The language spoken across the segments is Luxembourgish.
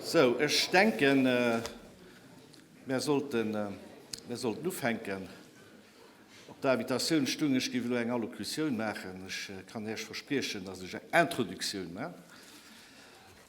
Sou, ech denken, mir sollten ufänken. Op der Invitatioun stoung, ech géif elo eng Allocution maachen. Ech kann Iech verspriechen, dass ech eng Introductioun maachen.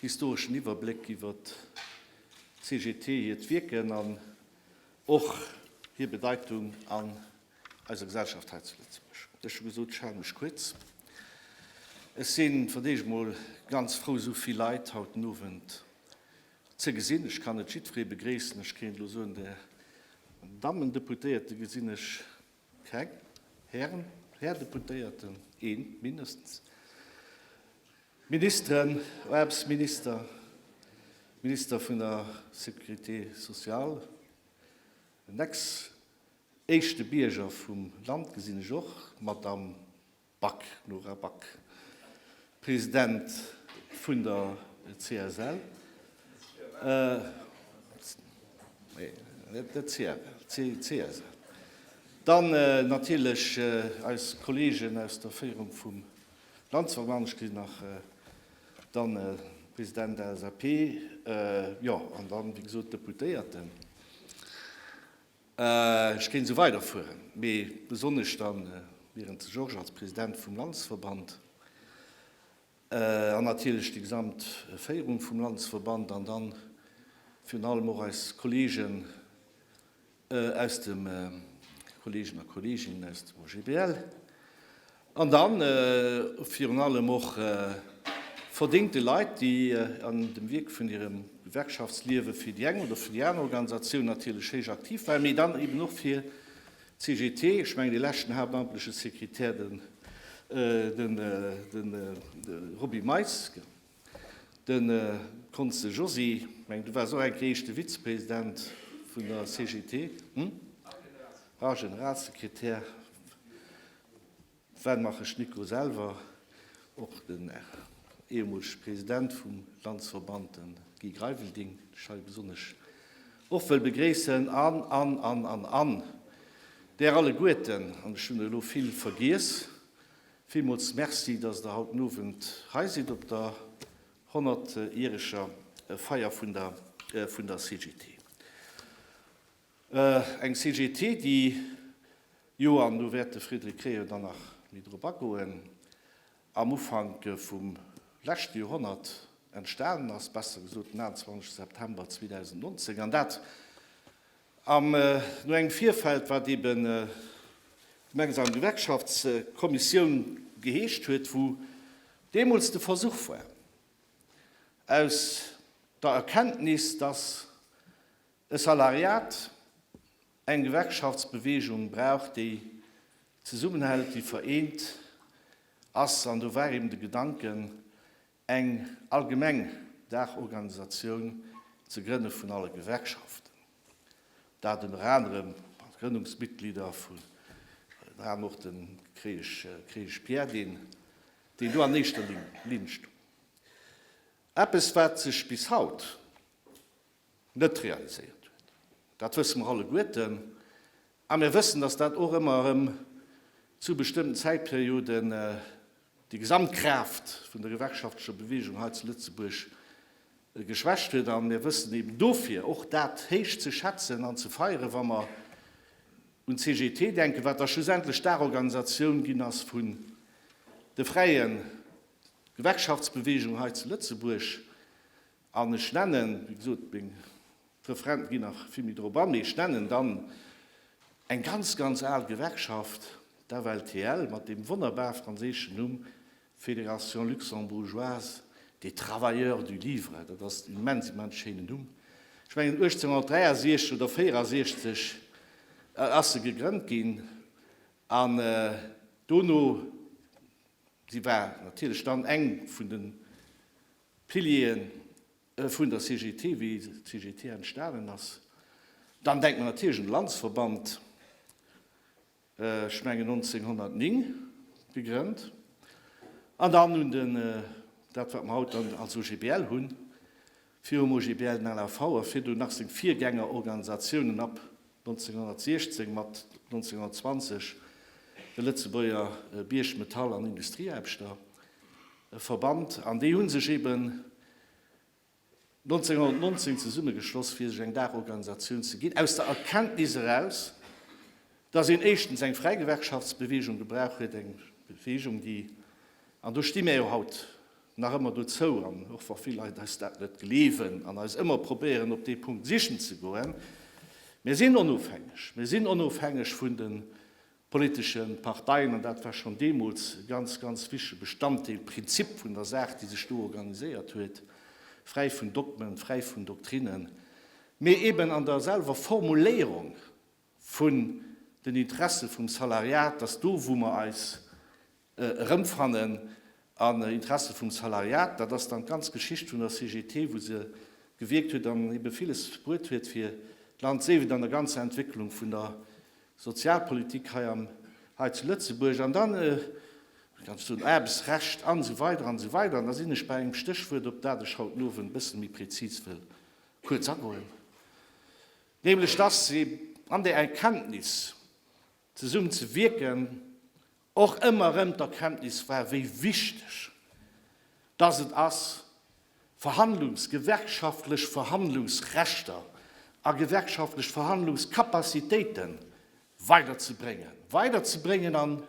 Historeschen Iwwerbléck iwwer d'CGT, hiert Wierken an och hir Bedeitung an eiser Gesellschaft hei zu Lëtzebuerg. Ech hu gesot, ech hale mech kuerz. Ech sinn, fir d'éischt emol, ganz frou esou vill Leit haut den Owend ze gesinn. Ech kann net jiddweree begréissen. Ech kéint elo soen, de Dammen Deputéierte gesinn ech Keng, Hären, Här Deputéierten, een mindestens. Ministeren, Aarbechtsminister, Minister vun der Sécurité sociale, den ex-éischte Bierger vum Land gesinn ech och, Madame Back Nora Back, President vun der CSL, dann natierlech eis Kolleegen aus der Féierung vum Landesverband, ech gesinn nach dann de President der LSAP, jo, an dann, wéi gesot, d'Deputéierten. Ech kéint esou weiderfueren, mee besonnesch da wieren de Georges als President vum Landesverband an natierlech déi gesamt Féierung vum Landesverband an dann virun allem och eis Kolleegen aus dem Kolleegen a Kolleeginnen aus dem OGBL. An dann virun allem och verdéngte Leit, déi an dem Wierk vun hirem Gewerkschaftsliewe fir déi eng oder fir déi aner Organisatioun natierlech héich aktiv waren, mee dann eben och fir d'CGT. Ech mengen, dee leschten haaptamtleche Sekretär, de Roby Meis, de Cons. De Josy, ech mengen, du waars och eng Kéier éischte Vizepresident vun der CGT, hm? Rar Generalsekretär. Wat maachen d'Schnittgo selwer? Och den ehemolege President vum Landsverband, de Guy Greivel, deen ech hei besonnesch och wëll begréissen, an, an, an, an, an Der alleguerten, an ech hunn der elo vill vergiess, villmools Merci, datt Der haut den Owend hei sidd op der honnertjäreger Feier vun der CGT. Eng CGT, déi jo, an do wäert de Frédéric Créon dann nach méi drop agoen, am Ufank vum leschte Joerhonnert entstanen ass, besser gesot den 21 September 2019, an dat am no engem Virfeld, wat eben gemeinsam Gewerkschaftskommissioun geheescht huet, wou deemools de Versuch war, aus der Erkenntnis, datt E Salariat, eng Gewerkschaftsbeweegung brauch, déi zesummenhält, déi vereent ass. An do war eben de Gedanken, eng allgemeng Daachorganisatioun ze grënne vun alle Gewerkschaften. Dat ënner anerem mat Grënnungsmitglieder vun, ënner anerem och dem Kreesch Pierre, déi do an éischter Linn stoung. Eppes, wat sech bis haut net realiséiert huet. Dat wësse mer alleguerten. A mir wëssen, dass dat och ëmmer erëm zu bestëmmten Zäitperioden déi Gesamtkraaft vun der gewerkschaftlecher Beweegung hei zu Lëtzebuerg geschwächt huet. A mir wëssen eben dofir och dat héich ze schätzen an ze feieren, wa mer un d'CGT denken, wat da schlussendlech d'Daachorganisatioun ginn ass vun de fräie Gewerkschaftsbeweegungen hei zu Lëtzebuerg. An ech nennen, wéi gesot, meng Referenten ginn nach vill méi drop an, mee ech nennen dann eng ganz, ganz al Gewerkschaft, d'FLTL, mat deem wonnerbar franséischen Numm Fédération luxembourgeoise des travailleurs du livre. Dat ass en immens, immens schéinen Numm. Ech mengen 1863 oder 64 ass se gegrënnt ginn. An dono, si war natierlech dann eng vun de. D'Piliere vun der CGT, wéi d'CGT entstanen ass. Dann denkt mer natierlech un de Landesverband, ech mengen 1909 gegrënnt. An dann un den, dat wat mer haut dann als OGBL hunn, virum OGBL den LAV a virdu nach seng Virgängerorganisatiounen ab 1916 mat 1920 de Lëtzebuerger Bierg-, Metall an Industrieaarbechter verbannt, an déi hu sech eben 1919 zesummegeschloss fir sech eng Daachorganisatioun ze ginn, aus der Erkenntnis eraus, datt een éischtens eng fräi Gewerkschaftsbeweegung gebrauch huet, eng Beweegung déi, an do sti mär jo haut, nach ëmmer dozou, an och wa vill Leit eis dat net gleewen an eis ëmmer probéieren op dee Punkt sichen ze goen, mir sinn onofhängeg, mir sinn onofhängeg vun de politesche Parteien an dat war schonn deemools e ganz, ganz wichtege Bestanddeel, Prinzip vun der Saach, déi sech do organiséiert huet, fräi vun Dogmen, fräi vun Doktrinen, mee eben an der selwer Formuléierung vun den Interesse vum Salariat, dass do wou mer eis erëmfannen an Interesse vum Salariat. Dat ass dann d'ganz Geschicht vun der CGT, wou se gewierkt huet an ebe villes bruet huet fir d'Land, sief et an der ganzer Entwécklung vun der Sozialpolitik hei am hei zu Lëtzebuerg an dann, wéi kann ech soen, Aarbechtsrecht an esou weider an esou weider. An da sinn ech bei engem Stéchwuert, op dat ech haut den Owend e bësse méi prezis wëll kuerz agoen, nämlech dass ee an där Erkenntnis, zesummenzewierken och ëmmer erëm d'Erkenntnis war, wéi wichteg dass et ass, Verhandlungs-, gewerkschaftlech Verhandlungsrechter a gewerkschaftlech Verhandlungskapazitéite weiderzebréngen, weiderzebréngen an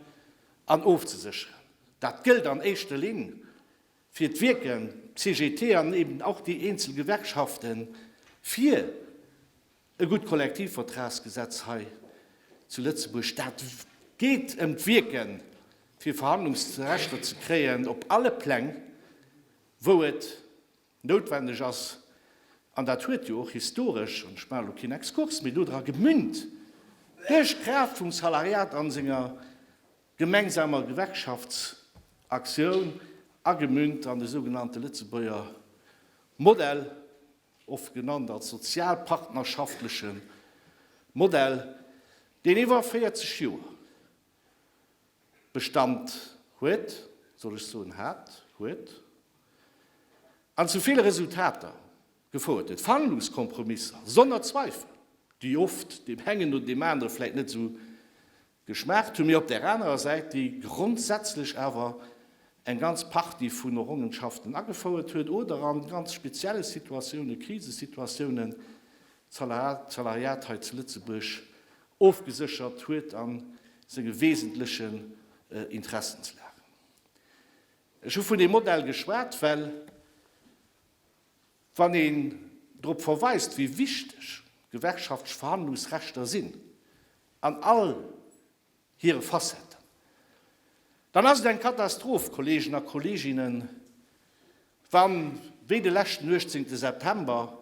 an ofzesécheren. Dat gëllt an éischter Linn fir d'Wierken, d'CGT an eben och déi eenzel Gewerkschaften, fir E gutt Kollektivvertragsgesetz hei zu Lëtzebuerg, dat geet ëm d'Wierke fir Verhandlungsrechter ze kréien op alle Pläng, wou et noutwendeg ass. An dat huet jo och historesch, an ech maachen elo keen Exkurs méi, dodra gemünnt, duerch d'Kraaft vum Salariat a senger gemengsamer Gewerkschaftsaktioun, agemünnt an de sougenannte Lëtzebuerger Modell, oft genannt als sozialpartnerschaftlechen Modell, deen iwwer 40 Joer Bestand huet, soll ech soen hat, huet, an zu ville Resultater gefouert huet, fanglos Kompromisser, sonner Zweifel, déi oft deem engen oder deem anere vläicht net esou Geschmaacht hu mir op där anerer Säit, déi grondsätzlech awer eng ganz Partie vun Errongenschaften agefouert huet oder a ganz spezielle Situatiounen, Krisesituatiounen, d'Salariat hei zu Lëtzebuerg ofgeséchert huet a senge wesentlechen Interessenslagen. Ech hu vun deem Modell geschwat, well. Wann een drop verweist, wéi wichteg gewerkschaftlich Verhandlungsrechter sinn an all hire Facetten, dann ass et eng Katastroph, Kolleegen a Kolleeginnen, wann, wéi de leschten 18 September,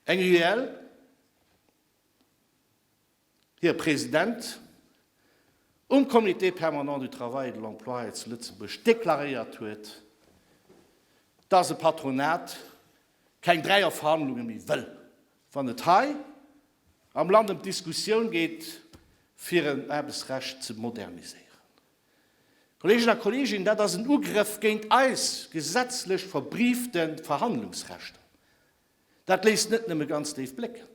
eng UEL, Här President, um Comité permanent du travail et de l'emploi hei zu Lëtzebuerg deklaréiert huet, dass e Patronat keng dräier Verhandlunge méi wëll, wann et hei am Land ëm d'Diskussioun geet, fir en Aarbechtsrecht ze moderniséieren. Kolleegen a Kolleeginnen, dat ass en Ugrëff géint eis gesetzlech verbriefte Verhandlungsrechter. Dat léisst net nëmme ganz déif blécken,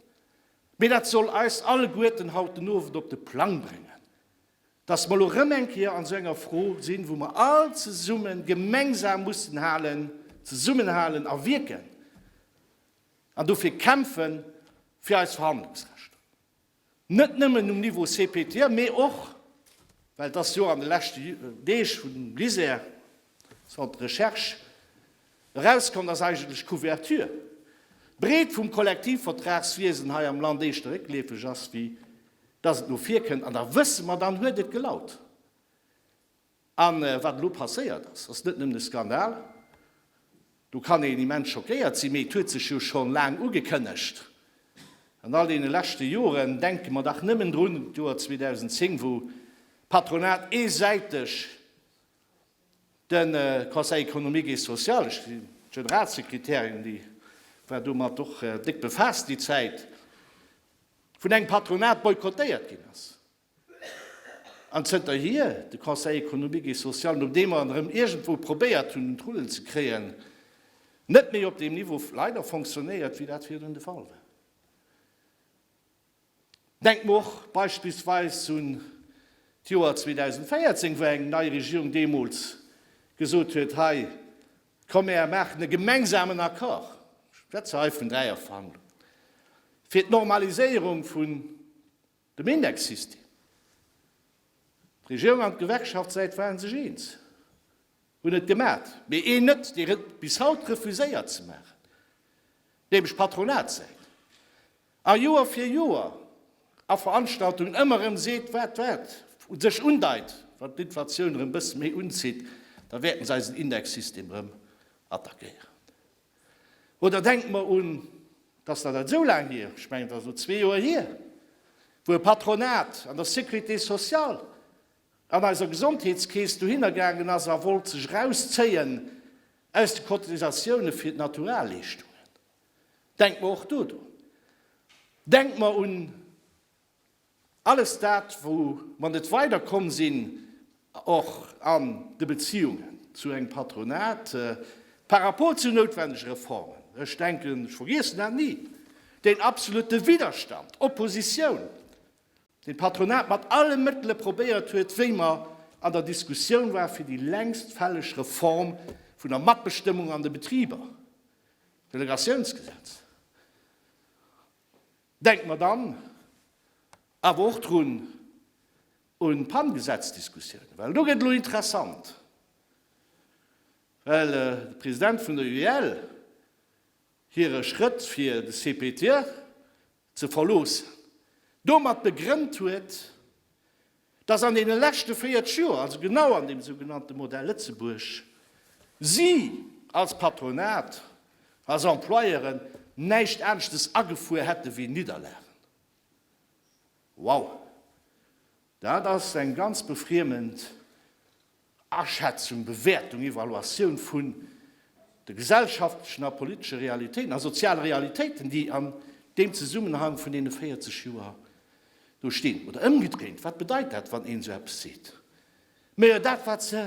mee dat soll eis alleguerten haut den Owend op de Plang bréngen, dass mer elo erëm eng Kéier an esou enger Fro sinn, wou mer all zesumme gemengsam mussen halen, zesummenhalen a wierken an dofir kämpfen, fir eis Verhandlungsrechter. Net nëmmen um Niveau CPTM, mee och, well dass jo an de leschte Deeg vun LISER, Centre de Recherche, erauskomm, dass eigentlech d'Couverture, d'Breet vum Kollektivvertragswiesen hei am Land éischter réckleefeg ass, wéi dass et no vir kënnt. An da wësse mer, dann huet et gelaut. A wat elo passéiert ass, ass net nëmmen e Skandal, do kann een immens schockéiert sinn, mee et huet sech jo scho laang ugekënnegt. An all deene leschte Joren, denke mer dach nëmmen drun, d'Joer 2010, wou d'Patronat eesäiteg de Conseil économique et social, ech sinn Generalsekretärin, déi war domat och déck befaasst déi Zäit, vun engem Patronat boykottéiert ginn ass. An zënterhier, de Conseil économique et social, no deem mer en erëm iergendwou probéiert hunn un d'Rullen ze kréien, net méi op deem Niveau leider fonctionnéiert, wéi dat virdrun de Fall war. Denkt mer och beispillsweis un d'Joer 2014, wou eng nei Regierung deemools gesot huet, hei komm mär maachen e gemengsamen Accord, ech schwätze hei vun Dräierverhandlungen, fir d'Normaliséierung vun Dem Indexsystem. D'Regierung an d'Gewerkschaftssäit waren sech eens, hunn et gemat, mee een net, deen et bis haut refuséiert ze maachen, nämlech d'Patronatssäit. A Joer fir Joer a Veranstaltungen ëmmer erëm seet, wat dat u sech undeit, wann d'Inflatioun erëm e bësse méi unzitt, da wäerten se eisen Indexsystem erëm attackéieren. Oder denkt mer un, dass dat net esou laang hier, ech mengen et ass elo zwee Joer hier, wou e Patronat an der Sécurité sociale an eiser Gesondheetskeess dohinner gaangen ass a wollt sech erauszéien aus de Cotisatiounen fir d'Naturalleeschtungen. Denkt mer och do drun. Denkt mer un. Alles dat, wou mer net weider komm sinn, och an de Beziungen zu engem Patronat par rapport zu noutwendege Reformen, ech denken, ech vergiessen dat ni, deen absolute Widerstand, d'Oppositioun, deen d'Patronat mat alle Mëttele probéiert huet, wéi mer an der Diskussioun war fir déi längst fälleg Reform vun der Matbestëmmung an de Betriber, d'Delegatiounsgesetz. Denkt mer dann awer och drun un d'Pan-Gesetzdiskussioun, well do gëtt et elo interessant, well de President vun der UEL hire Schrëtt, fir de CPTE ze verloossen, domat begrënnt huet, dass an deene leschte 40 Joer, also genau an deem sougenannte Modell Lëtzebuerg, si als Patronat, als Employeuren näischt aneschtes agefuer hätte wéi Nidderlagen. Wow! Dat ass eng ganz befriemend Aschätzung, Bewäertung, Evaluatioun vun de gesellschaftlechen a politesche Realitéiten a soziale Realitéiten, déi an deem Zesummenhang vun deene 40 Joer do stinn. Oder ëmgedréint, wat bedeit dat, wann een esou eppes seet? Mä jo, dat, wat se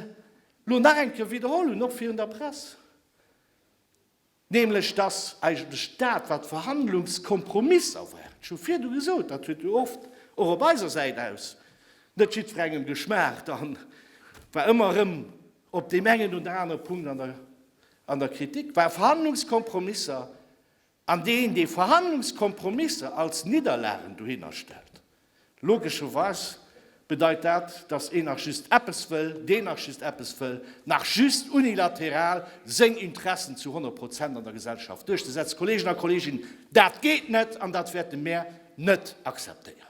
elo nach eng Kéier widderholl hunn, och virun der Press, nämlech dass eigentlech dat, wat d'Verhandlungskompromisser waren, ech hu virdu gesot, dat huet jo oft och op eiser Säit aus net jiddwerengem geschmaacht a war ëmmer erëm op deem engen oder anere Punkt an der an der Kritik war, Verhandlungskompromisser, an deen, dee Verhandlungskompromisser als Nidderlagen dohinner stellt, Logescherweis bedeit dat, datt een nach just eppes wëll, deen nach just eppes wëll, nach just unilateral seng Interessen zu 100 Prozent an der Gesellschaft duerchzesetzen. Kolleegen a Kolleeginnen, dat geet net an dat wäerte mär net akzeptéieren.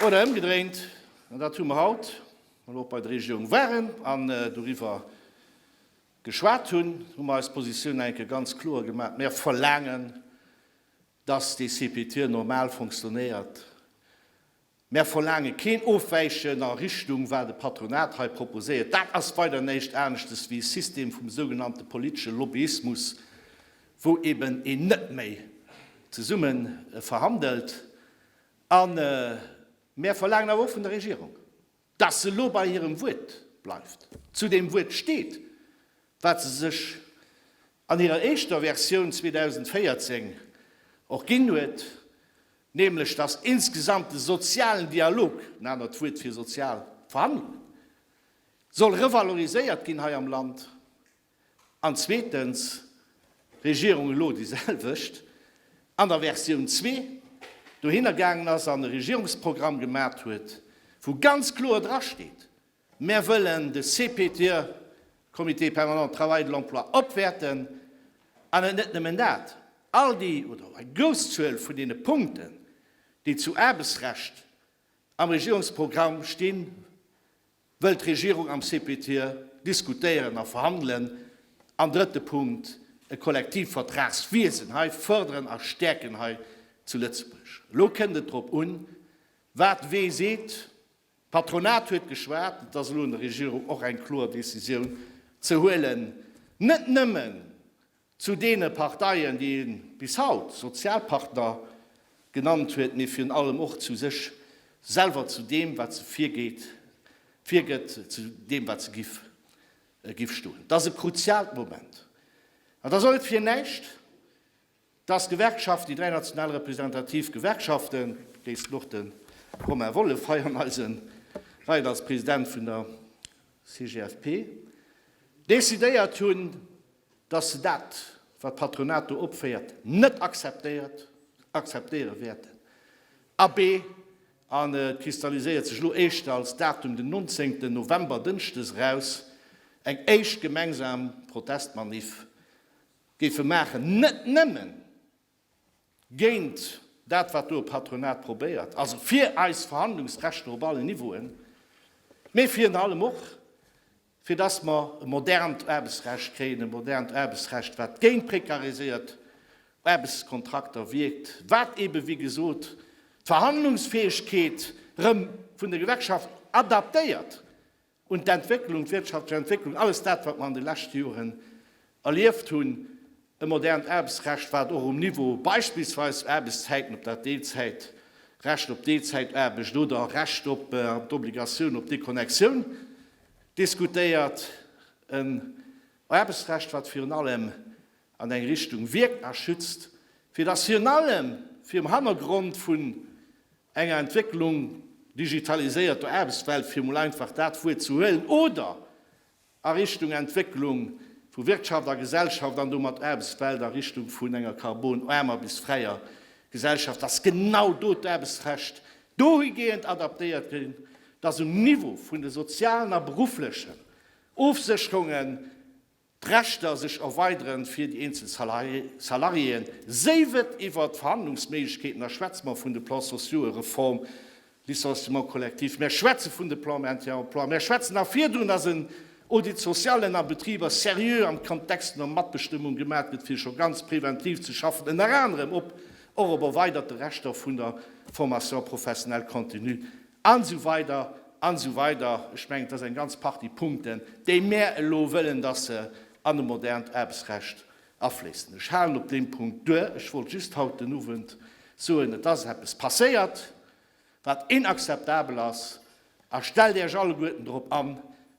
Oder ëmgedréint, an dat hu mer haut, mer elo och bei der Regierung waren an doriwwer geschwat hunn, hu mer eis Positioun nach eng Kéier ganz kloer gemaach, Mer verlaangen, dass dee CPT normal fonctionnéiert. Mer verlaange keen Ofwäichen a Richtung, wat e Patronat hei proposéiert. Dat ass weider näischt aneschtes wéi e System vum sougenannte politesche Lobbyismus, wou eben een net méi zesumme verhandelt an, Mär verlaangen awer och vun der Regierung, dass se elo bei hirem Wuert bleift, zu deem Wuert steet, wat se sech an hirer éischter Versioun 2014 och ginn huet, nämlech dass insgesamt de sozialen Dialog, en anert Wuert fir sozial Verhandlungen, soll revaloriséiert ginn hei am Land. An zweetens, Regierung elo déi selwecht, an der Versioun zwee dohinner gaangen ass an e Regierungsprogramm gemat huet, wou ganz kloer dra steet, Mär wëllen de CPTE, Comité permanent de travail et de l'emploi, opwäerten. An et net nëmmen dat, all déi oder eng grouss Zuel vun deene Punkten, déi zu Aarbechtsrecht am Regierungsprogramm stinn, Wëll d'Regierung am CPTIE diskutéieren a verhandelen? An drëtte Punkt, e Kollektivvertragswiesen hei fërderen a stäerken hei zu Lëtzebuerg. Elo kënnt et drop un, wat wee seet. D'Patronat huet geschwat, et ass elo un der Regierung och eng kloer Decisioun ze huelen, net nëmmen Zu deene Parteien, déi ee bis haut Sozialpartner genannt huet, mee virun allem och zu sech selwer, zu deem, wat se virgeet, virgëtt, zu deem, wat se giff, giff stoen. Dat ass e kruziaalt Moment. An da sollt fir näischt, dass d'Gewerkschaften, déi dräi national representativ Gewerkschaften, déi och de Romain Wolff hei an eise Reien als President vun der CGFP decidéiert hunn, dass se dat, wat d'Patronat do opféiert, net akzeptéiert, akzeptéiere wäerten. Abee, an et kristalliséiert sech elo éischter als Datum den 19 November, Dënschdes, eraus, eng éischt gemeinsam Protestmaniff géife maachen, net nëmmen, géint dat wat do e Patronat probéiert, also fir eis Verhandlungsrechter op allen Niveauen, mä virun allem och fir datt mer e modernt Aarbechtsrecht kréien, e modernt Aarbechtsrecht wat géint prekariséiert Aarbechtskontrakter wierkt, wat eebe wéi gesot d'Verhandlungsfäegkeet erëm vun de Gewerkschaften adaptéiert Un d'Entwécklung, d'wirtschaftlech Entwécklung, alles dat, wat mer an de leschte Joren erlieft hunn, e modernt Aarbechtsrecht, wat och um Niveau beispillsweis Aarbechtszäiten, ob dat Deelzäit, Recht op Deelzäitaarbecht oder Recht op an d'Obligatioun op Deconnexioun diskutéiert, en Aarbechtsrecht, wat virun allem an eng Richtung wierkt a schützt, fir dass virun allem virum Hannergrond vun enger Entwécklung digitaliséierter Aarbechtswelt, fir emol einfach dat Wuert ze huelen, oder a Richtung Entwécklung vu Wirtschaft a Gesellschaft an domat Aarbechtswelt a Richtung vun enger karbonaarmer bis fräier Gesellschaft, dass genau do d'Aarbechtsrecht dohigehend adaptéiert ginn, dass um Niveau vun de sozialen a berufflechen Ofsécherungen D'Rechter sech erweideren fir déi eenzel Salariéen, séi wëtt iwwert d'Verhandlungsméiglechkeeten, da schwätze mer vun de Plans sociaux, Reform, Licenciement collectif, mär schwätze vun de Plans Maintien emploi, mär schwätzen nach virdrun, dass en Audit social en a Betriber seriö am Kontext vun der Matbestëmmung gemat gëtt, fir scho ganz preventiv ze schaffen, ënner anerem op och op erweiderte Rechter vun der Formation professionnelle continue. An esou weider an esou weider. Ech mengen, et ass eng ganz Partie Punkten, déi mär elo wëllen, dass se an e modernt Aarbechtsrecht afléissen. Ech halen op deem Punkt duer. Ech wollt just haut den Owend soen, et ass eppes passéiert, wat inakzeptabel ass. A stellt Iech alleguerten drop an,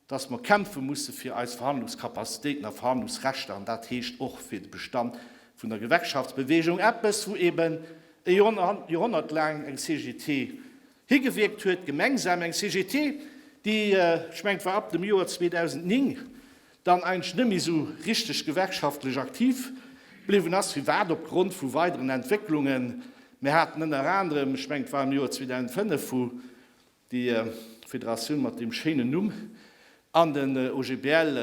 dass mer kämpfe musse fir eis Verhandlungskapazitéiten a Verhandlungsrechter, an dat heescht och fir de Bestand vun der Gewerkschaftsbewegung, eppes wou eben e Joerhonnert laang eng CGT higewierkt huet, gemengsam eng CGT, déi, ech mengen et war ab dem Joer 2009, dann eigentlech net méi esou richteg gewerkschaftlech aktiv bliwwen ass. Firwat? Opgrond vu weideren Entwécklungen. Mir haten ënner anerem, ech mengen et war am Joer 2005, wou Déi Federatioun mat deem schéinen Numm an den OGBL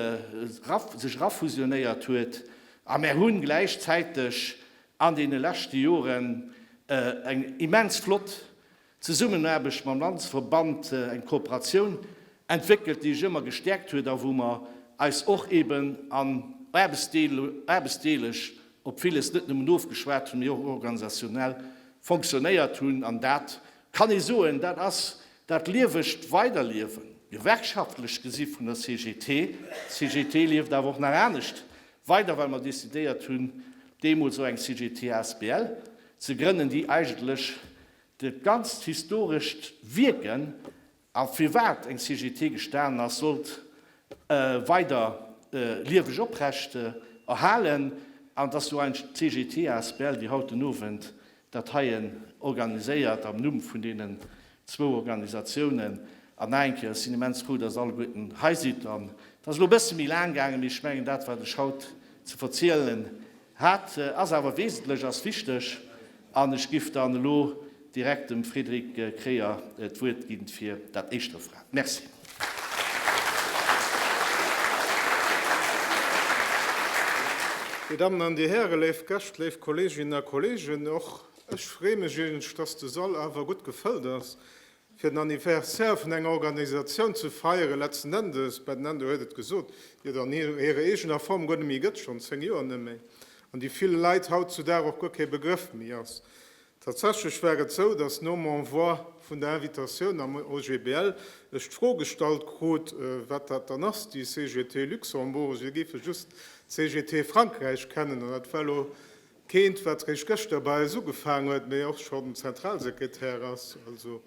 sech erafusionéiert huet. A mär hunn gläichzäiteg an deene leschte Joren eng immens flott Zesummenaarbecht mam Landesverband, eng Kooperatioun entwéckelt, déi sech ëmmer gestäerkt huet a wou mer eis och eben an aarbechtsdeeleg op villes net nëmmen ofgeschwat hunn, mee och organisationell fonctionnéiert hunn. An dat Kann ee soen, dat ass dat liewegt Weiderliewen, gewerkschaftlech gesi vun der CGT. D'CGT lieft awer och nach anescht weider, well mer decidéiert hunn, deemools och eng CGT asbl ze grënnen, déi eigentlech dat ganzt historescht Wierken, A firwat eng CGT gestan ass, sollt e weider lieweg oprecht erhalen. An dass esou eng CGT asbl wéi haut den Owend dat heie organiséiert am Numm vun deenen zwou Organisatiounen. An nach eng Kéier, ech sinn immens frou, dass alleguerten hei sidd. An et ass elo e bësse méi laang gaangen, mee ech mengen, dat wat ech haut ze verzielen Hat ass awer wesentlech, ass wichteg. An ech giff dann elo direkt dem Frédéric Kreyer d'Wuert ginn fir dat éischt Referat. Merci. Dir Dammen an Dir Hären, léif Gäscht, léif Kolleeginnen a Kolleegen, och ech freeë mech eigentlech, dass de Sall awer gutt gefëllt ass. fir den Anniversaire vun enger Organisatioun ze feieren, letzten Endes, Ben Endo huet et gesot, déi et an hirer eegener Form guer net méi gëtt, schonn zéng Joer net méi, an déi ville Leit haut zu Dag och guer kee Begrëff méi ass. Tatsächlech war et esou, dass nom Envoi vun der Invitatioun am OGBL ech d'Fro gestallt krut, wat dat dann ass, déi CGT Luxembourg. Si géife just d'CGT Frankräich kennen, an dat war elo Keent, wat réischt gëschter bei eis ugefaang huet, mee och schonn Zentralsekretär ass. Also,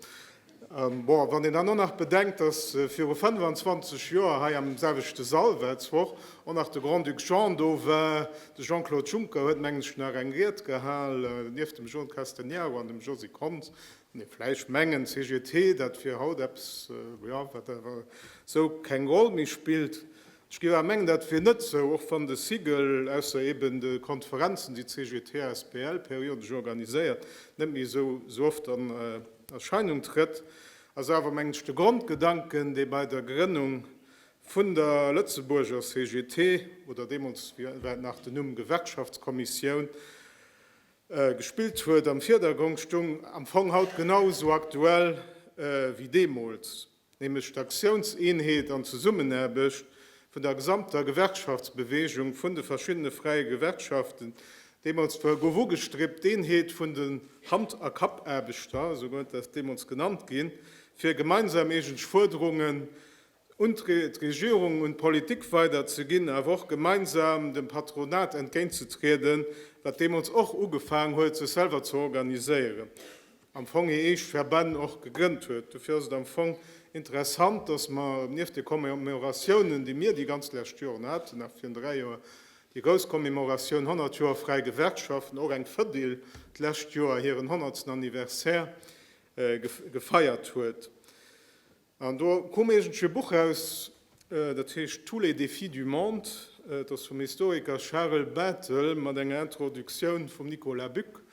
bon, wann een dann och nach bedenkt, dass viru 25 Joer hei am selwechte Sall, Welzwoch, och nach de Grand-Duc Jean do war, de Jean-Claude Juncker huet, mengen ech, nach eng Ried gehal, nieft dem Jean Castegnaro an dem Josy Konz, nee, vläicht mengen CGT, dat wier haut eppes, jo, wat awer esou keng Roll méi spillt. D'Scera mengt dat wier net sou, och wann de SIGEL, ausser eben de Konferenzen, déi d'CGT asbl periodesch organiséiert, net méi esou esou oft an Erscheinung trëtt, ass awer mengt ech de Grondgedanken, dee bei der Grënnung vun der Lëtzebuurger CGT, oder deemools war et nach den Numm Gewerkschaftskommissioun, gespillt huet, am Virdergrong stung, am Fong haut genau esou aktuell wéi deemools. nämlech d'Aktiounseenheet an d'Zesummenaarbecht vun der gesamter Gewerkschaftsbeweegung, vun de verschiddene fräie Gewerkschaften, deemools zwar gouf ugestribt, d'Eenheet vun den Hand a Kappaarbechter, esou huet dat deemools genannt ginn, fir gemeinsam eegentlech Fuerderungen un d'Regierung, un d'Politik weiderzeginn, awer och gemeinsam dem Patronat entgéintzetrieden, wat deemools och ugefaangen huet, sech selwer ze organiséieren. am Fong hir eeg Verbänn och gegrënnt huet. Dofir ass et am Fong interessant, dass mer nieft de Commemoratiounen, déi mir déi ganz lescht Joren haten, nach virun dräi Joer déi grouss Commemoratioun 100 Joer fräi Gewerkschaften, och eng Fedil d'lescht Joer hiren honnertsten Anniversaire gefeiert huet. An do koum iergendwéi e Buch raus, dat heescht Tous les défis du monde, et ass vum Historiker Charel Bettel mat enger Introductioun vum Nicolas Buck.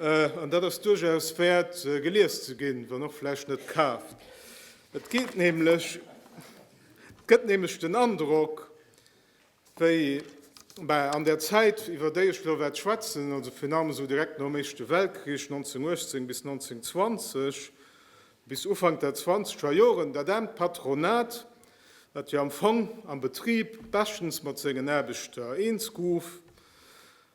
An dat ass duerchaus wäert gelies ze ginn, wann och vläicht net kaaft. Et gëtt nämlech den Androck, Wéi mä an där Zäit, iwwer déi ech elo wäert schwätzen, also virun allem esou direkt nom Éischte Weltkrich, 1918 bis 1920, bis Ufank der zwanzeger Joren, dat aarmt Patronat, wat jo am Fong am Betrib beschtens mat sengen Aarbechter eens gouf,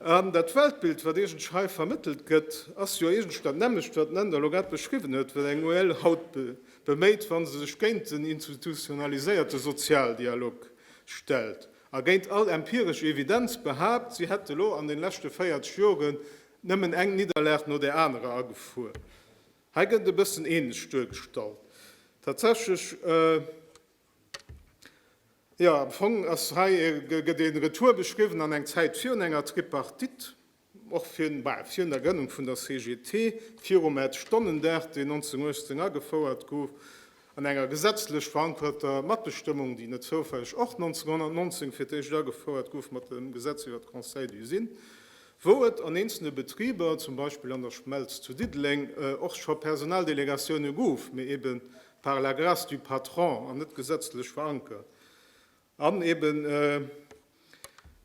An dat Weltbild, wat iergendsch hei vermëttelt gëtt, ass jo iergendsch dat nämmlecht, wat den Änder elo grad beschriwwen huet, wat eng UEL haut beméit, wa se sech géint den institutionaliséierte Sozialdialog stellt a géint all empiresch Evidenz behaapt, si hätt elo an de leschte 40 Jore nëmmen eng Nidderlag no där anerer agefuer. Hei gëtt et e bëssen ähnlech duergestallt. Tatsächlech. Jo, am Fong ass hei e, gëtt ee Retour beschriwwen an eng Zäit virun enger Tripartite, och virun, bah, virun der Grënnung vun der CGT, virum Ed. Stonnendag, deen 1918 agefouert gouf, an enger gesetzlech verankerter Matbestëmmung, déi net zoufälleg och 1919 fir d'éischt agefouert gouf mat dem Gesetz iwwer d'Conseils d'usine, wou et an eenzelne Betriber, zum Beispill an der Schmelz zu Diddeleng, och scho Personaldelegatioune gouf, mee eben par la grâce du patron an net gesëtzlech verankert. An eben,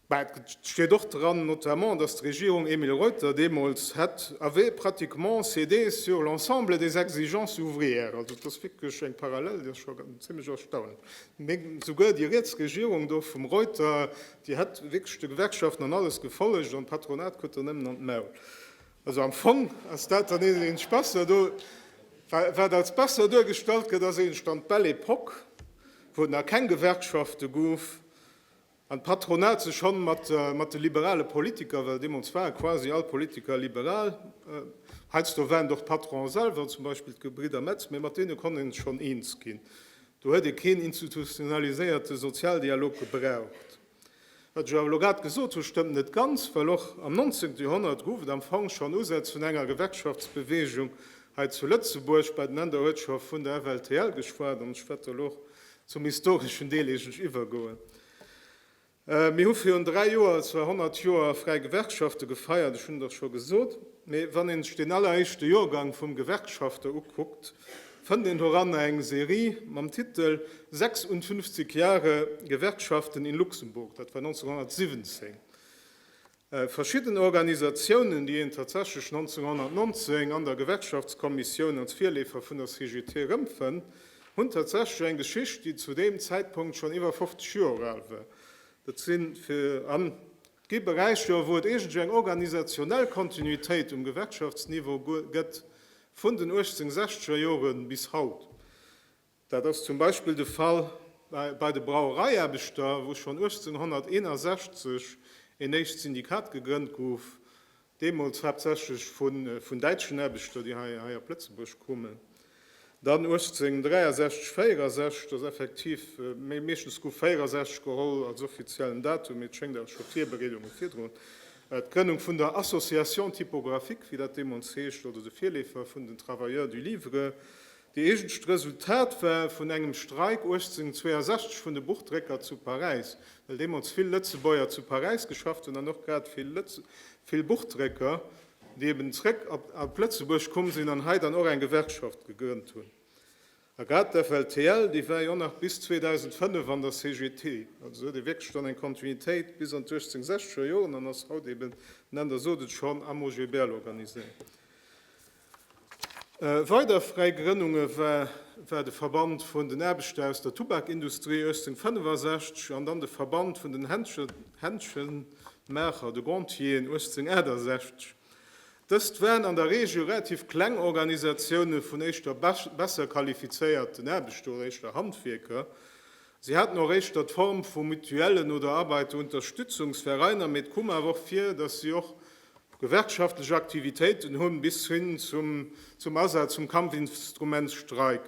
bah, et steet och dran, notamment, dass d'Regierung Emile Reuter deemools hätt avait pratiquement cédé sur l'ensemble des exigences ouvrières. Also et ass wierklech eng Parallel, déi ass scho zimlech erstaunlech. Mee souguer déi riets Regierung do vum Reuter, déi hätt wierklech de Gewerkschaften an alles gefollegt an d'Patronat krut der nëmmen an d'Maul. Also am Fong ass dat dann eenegesch besser do. Wat als besser duergestallt gëtt, ass eenegesch dann d'Belle Epoque, wou et nach keng Gewerkschafte gouf an d'Patronat sech schonn mat de liberale Politiker, well deemools ware quasi all d'Politiker liberal, heiansdo waren et och d'Patronen selwer, zum Beispill d'Gebridder Metz, mee mat deene konnt ee sech schonn eens ginn. Do huet ee keen institutionaliséierte Sozialdialog gebraucht. Wat ech awer elo grad gesot hu stëmmt net ganz, well och am 19. Joerhonnert gouf et am Fong schonn Usätz vun enger Gewerkschaftsbeweegung hei zu Lëtzebuerg. Bei den Ender huet scho vun der FLTL geschwat an ech wäert do elo och zum historeschen Deel eigentlech iwwergoen. Mir hu virun dräi Joer zwar 100 Joer fräi Gewerkschafte gefeiert, ech hunn et och scho gesot, mee wann een sech deen alleréischte Joergang vum Gewerkschafter ukuckt, fënnt een doranner eng Serie mam Titel 56 Jahre Gewerkschaften in Luxemburg, dat war 1917. Verschidden Organisatiounen, déi een tatsächlech 1919 an der Gewerkschaftskommissioun als Virleefer vun der CGT erëmfënnt, hunn tatsächlech eng Geschicht, déi zu deem Zäitpunkt schonn iwwer 50 Joer al war. Dat sinn an gi Beräicher, wou et iergendsou eng organisationell Kontinuitéit um Gewerkschaftsniveau gëtt, Vun den 1860er Jore bis haut. Dat ass zum Beispill de Fall bei de Brauereiaarbechter, wou schonn 1861 een éischt Syndikat gegrënnt gouf, deemools haaptsächlech vun däitschen Aarbechter, déi hei op Lëtzebuerg koumen. Dann 1863, 64, dass effektiv, mee meeschtens gouf 64 geholl als offiziellen Datum, mee et schéngt awer scho Virbereedunge virdrun D'Grënnung vun der Association typographique, wéi dat deemools heescht, oder de Virleefer vun den Travailleurs du livre, déi eegentlecht Resultat war vun engem Streik 1862 vun de Buchdrécker zu Paräis, well deemools vill Lëtzebuerger zu Paräis geschafft hunn an och grad vill Buchdrécker, déi eben zréck op Lëtzebuerg komm sinn an hei dann och eng Gewerkschaft gegrënnt hunn. A grad d'FLTL, déi war jo och nach bis 2005 an der CGT. Also se huet ee wierklech dann eng Kontinuitéit bis an d'Uechtzéngsechzeger Joren an ass haut eben, den Änder sot et schonn, am OGBL organiséiert. Weider fräi Grënnunge war war de Verband vun den Aarbechter aus der Tubakindustrie 1865 an dann de Verband vun den Händschenmaacher, de Gontier, 1868. Dëst waren an der Regel relativ kleng Organisatioune vun éischter besser qualifizéierten Aarbechter oder éischter Handwierker. Si haten och éischter d'Form vu Mutuellen oder Arbeiterunterstützungsvereiner, mee et koum awer och vir, datt si och gewerkschaftlech Aktivitéiten hunn, bis hin zum Asaz vum Kampfinstrument Streik.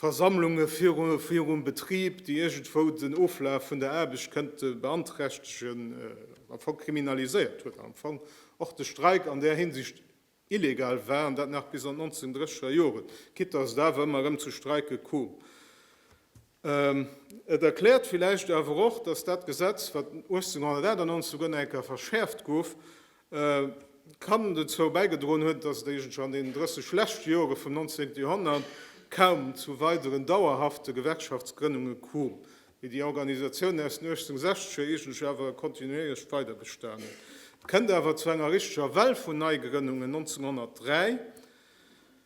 Versammlunge virum Betrib, déi iergendwou den Oflaf vun der Aarbecht kënnte beanträchtegen, am Fong kriminaliséiert huet an am Fong och de Streik an där Hinsicht illegal war, an dat nach bis an d'Nanzendrécheger Joren, quitte dass et awer ëmmer erëm zu Streike koom. Et erkläert villäicht awer och, dass dat Gesetz, wat 1898 erëm eng Kéier verschäerft gouf, kann dozou bäigedroen huet, datt et eigentlech an deenen 30 leschte Jore vum 19. Joerhonnert kaum zu weideren dauerhafte Gewerkschaftsgrënnunge koom, mee déi Organisatiounen aus den 1860er eigentlech awer kontinuéierlech weiderbestanen. Et kënnt awer zu enger richteger Well vun Neigrënnungen 1903,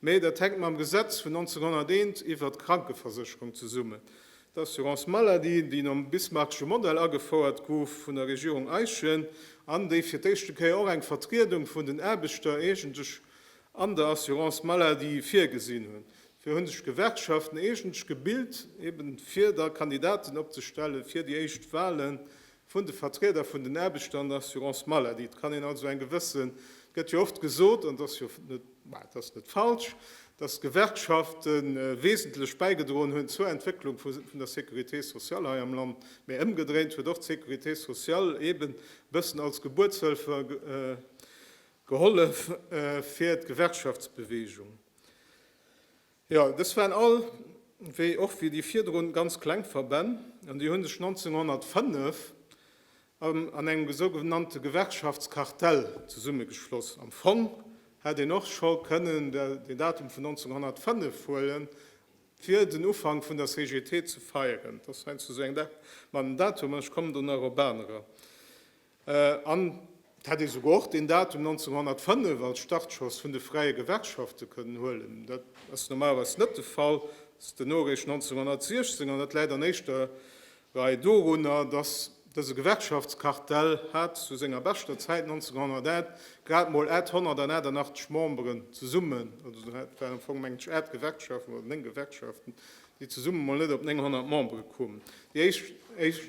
Mee dat hänkt mam Gesetz vun 1901 iwwert d'Krankeversécherung zesummen. D'Assurance maladie, déi nom bismarckesche Modell agefouert gouf vun der Regierung Eyschen an déi fir d'éischte Kéier och eng Vertriedung vun den Aarbechter eegentlech an der Assurance maladie virgesinn hunn, fir hu sech d'Gewerkschaften eegentlech gebilt, eben fir da Kandidaten opzestellen, fir déi éischt Wahlen vun de Vertrieder vun den Aarbechter an der Assurance maladie. Et kann een also eng gewëssen, et gëtt jo oft gesot, an et ass jo net, mä et ass net falsch, datt d'Gewerkschafte wesentlech bäigedroen hunn zur Entwécklung vun der Sécurité sociale hei am Land, mä ëmgedréint huet och d'Sécurité sociale eeben e bëssen als Gebuertshëlfer gehollef fir d'Gewerkschaftsbewegung. Jo, dës waren all, wéi och wéi déi virdrun, ganz kleng Verbänn, an déi hu sech 1905 an engem sougenannte Gewerkschaftskartell zesummegeschloss. Am Fong hätt een och scho kënnen den Datum vun 1905 huele fir den Ufank vun der CGT ze feieren. Dat ass heiansdo sou eng Dag mat engem Datum, ech kommen do nach op anerer. An et hätt ee souguer och deen Datum 1905 als Startschoss vun de fräie Gewerkschafte kënnen huelen. Dat ass normalerweis net de Fall. Et ass duerno eréischt 1916, an dat läit an éischter Rei dorunner, datt dëse Gewerkschaftskartell hat zu senger beschter Zäit 1908 grad emol 888 Memberen zesummen, also do hat waren am Fong meng ech 8 Gewerkschaften oder 9 Gewerkschaften, déi zesumme mol net op 900 Membere koumen. Déi éischt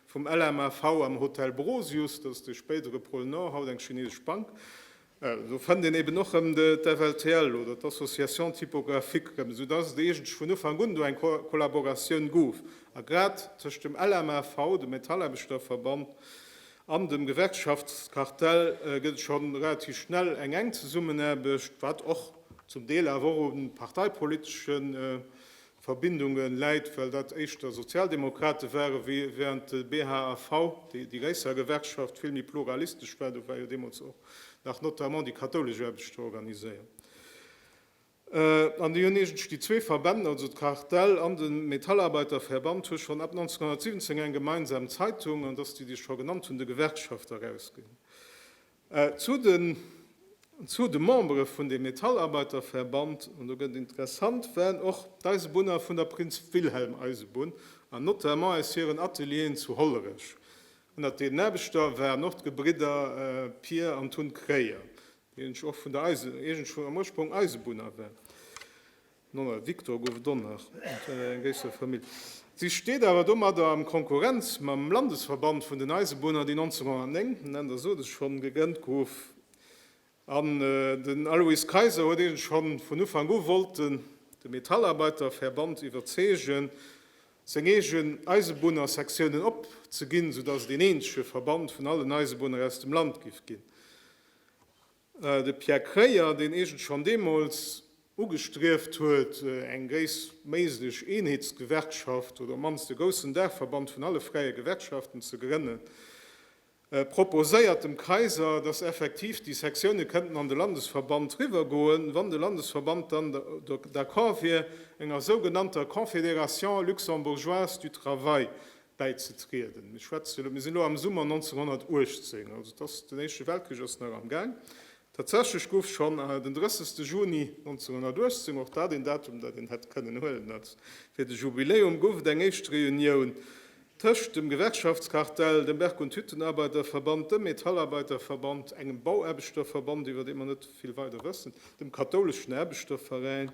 Vum LMAV am Hotel Brosius, dat ass de spéidere Pôle Nord, haut eng chinesesch Bank, do fënnt een eben och rëm d'FLTL oder d'Association Typographique rëm, esou dass et eegentlech vun Ufank un do eng Kollaboratioun gouf a grad tëscht dem LMAV, dem Metallaarbechterverband, an dem Gewerkschaftskartell gëtt et scho relativ schnell eng enk Zesummenaarbecht, wat och zum Deel awer och u parteipoliteschen, Verbindunge läit, well dat éischter Sozialdemokrate ware während de BHAV, déi déi Réisser Gewerkschaft, vill méi pluralistesch war. Do war jo deemools och nach notamment déi kathoulesch Aarbechter organiséiert. An déi hunn iergendsch déi zwee Verbänn, also d'CARTEL an de Metallarbeiterverband, hu schonn ab 1917 eng gemeinsam Zeitung, an dass déi, déi ech scho genannt hunn, de Gewerkschafter erausginn. Zu den zu de Membere vun dem Metallarbeiterverband, an do gëtt et interessant, waren och d'Eisebunner vun der Prinz Wilhelm Eisebunn an notamment aus hiren Atelieren zu Hollerech. Ënnert deenen Aarbechter waren och d'Gebridder Pier an Tun Kreyer, déi eigentlech och vun der Eise am Ursprong Eisebunner waren. D'Nonna Victor gouf Donner an enger gréisserer Famill. Si steet awer domadder a Konkurrenz mam Landesverband vun den Eisebunner, deen 1909, Nenn der sot ech schonn, gegrënnt gouf. An den Alois Kayser huet eegentlech scho vun Ufank u wollten de Metallarbeiterverband iwwerzeegen, seng eegen Eisebunnersektiounen opzeginn, soudatt et een eenzege Verband vun allen Eisebunner aus dem Land giff ginn. De Pierre Kreyer, deen eegent schonn deemools ugestrieft huet, eng gréisstméiglech Eenheetsgewerkschaft oder op d'mannst e goussen Daachverband vun alle fräie Gewerkschaften ze grënnen, proposéiert dem Kaiser, datt effektiv déi Sektione kënnten an de Landesverband riwwergoen, wann de Landesverband dann d'accord wier, enger sougenannter Confédération luxembourgeoise du travail bäizetrieden. Mir schwätzen elo, mir sinn elo am Summer 1918, also et ass, den Éischte Weltkrich ass nach am Gaang. Tatsächlech gouf schonn den 30. Juni 1918, och dat een Datum, dat een hätt kënnen huelen als fir de Jubiläum, gouf et eng éischt Reunioun tëscht dem Gewerkschaftskartell, dem Berg und Hüttenarbeiterverband, dem Metallarbeiterverband, engem Bauaarbechterverband, iwwer dee mer net vill weider wëssen, dem kathouleschen Aarbechterveräin.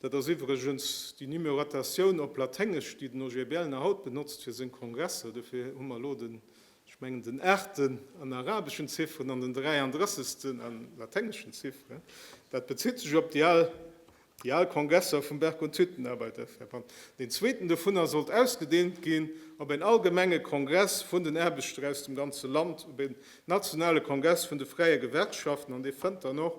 Dat ass iwwregens déi Numerotatioun op Laténgesch, déi den OGBL nach haut benotzt fir seng Kongresser. Dofir hu mer elo den, ech mengen, den aachten an arabeschen Zifferen an den dräianddrëssegsten a laténgeschen Zifferen. Dat bezitt sech op déi al, déi al Kongresser vum Berg und Hüttenarbeiterverband. Deen zweeten dovunner sollt ausgedeent ginn op een allgemenge Kongress vun den Aarbechter aus dem ganze Land, op een nationale Kongress vun de fräie Gewerkschaften, an dee fënnt dann och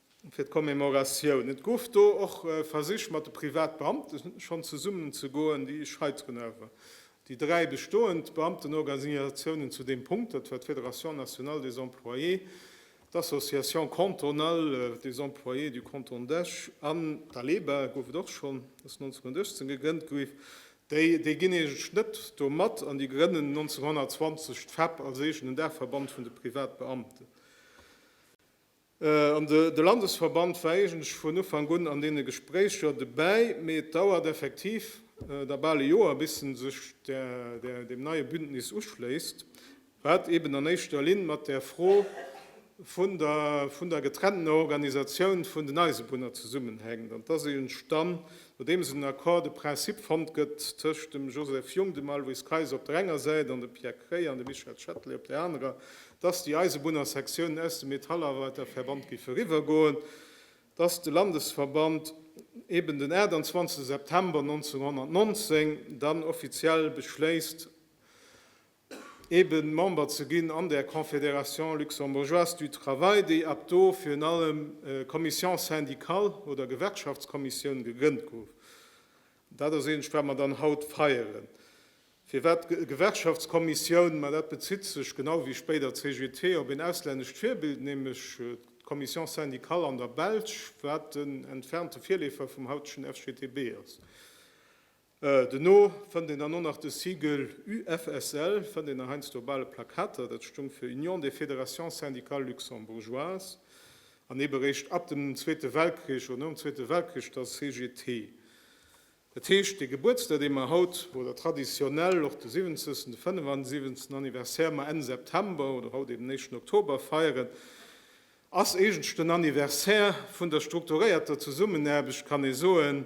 fir d'Commemoratioun. Et gouf do och Versich mat de Privatbeamte schonn zesummen ze goen, déi scheiteren awer déi dräi bestoend Beamtenorganisatiounen zu deem Punkt. Dat war d'Fédération nationale des employés, d'Association cantonale des employés du Canton d'Esch an d'ALEBA, gouf et och schonn, ass 1918 gegrënnt giff. Déi déi ginn eegetlech net do mat an déi grënnen 1920 d'FEP als eegenen Daachverband vun de Privatbeamten. An de Landesverband war eigentlech vun Ufank un an deene Gespréicher dobäi, mee et dauert effektiv da bal e Joer, bis en sech deem neie Bündnis uschléisst, wat eeben an éischter Linn mat där Fro vun der getrenntener Organisatioun vun den Eisebunner zesummenhänkt. An et ass eegentlech dann, nodeems en Accord de principe fonnt gëtt tëscht dem Joseph Jung, dem Aloyse Kayser op der enger Säit an dem Pierre Kreyer an dem Michel Chatelet op där anerer, dass déi Eisebunnersektiounen aus dem Metallarbeiterverband géife eriwwergoen, dass de Landesverband eben den 28 September 1919 dann offiziell beschléisst, eben Member ze ginn an där Confédération luxembourgeoise du travail, déi ab do virun allem Commission syndicale oder Gewerkschaftskommissioun gegrënnt gouf. Dat ass eent, wat mer dann haut feieren. Firwat Gewerkschaftskommissioun? Ma dat bezitt sech, genau wéi spéider d'CGT, op een auslännescht Virbild, nämlech d'Commission syndicale an der Belsch, wat en entfernte Virleefer vum hautegen FGTB ass. Duerno fënnt een dann och nach de Siegel UFSL, fënnt een nach heiansdo op ale Plakater, dat stoung fir Union des fédérations syndicales luxembourgeoises. An eben eréischt ab dem Zweete Weltkrich oder nom Zweete Weltkrich der CGT. Dat heescht, dee Gebuertsdag, dee mer haut, oder traditionell och de 70. de 75. Anniversaire, mer Enn September oder haut eben éischten Oktober feieren, ass eegentlech den Anniversaire vun der strukturéierter Zesummenaarbecht, kann ee soen,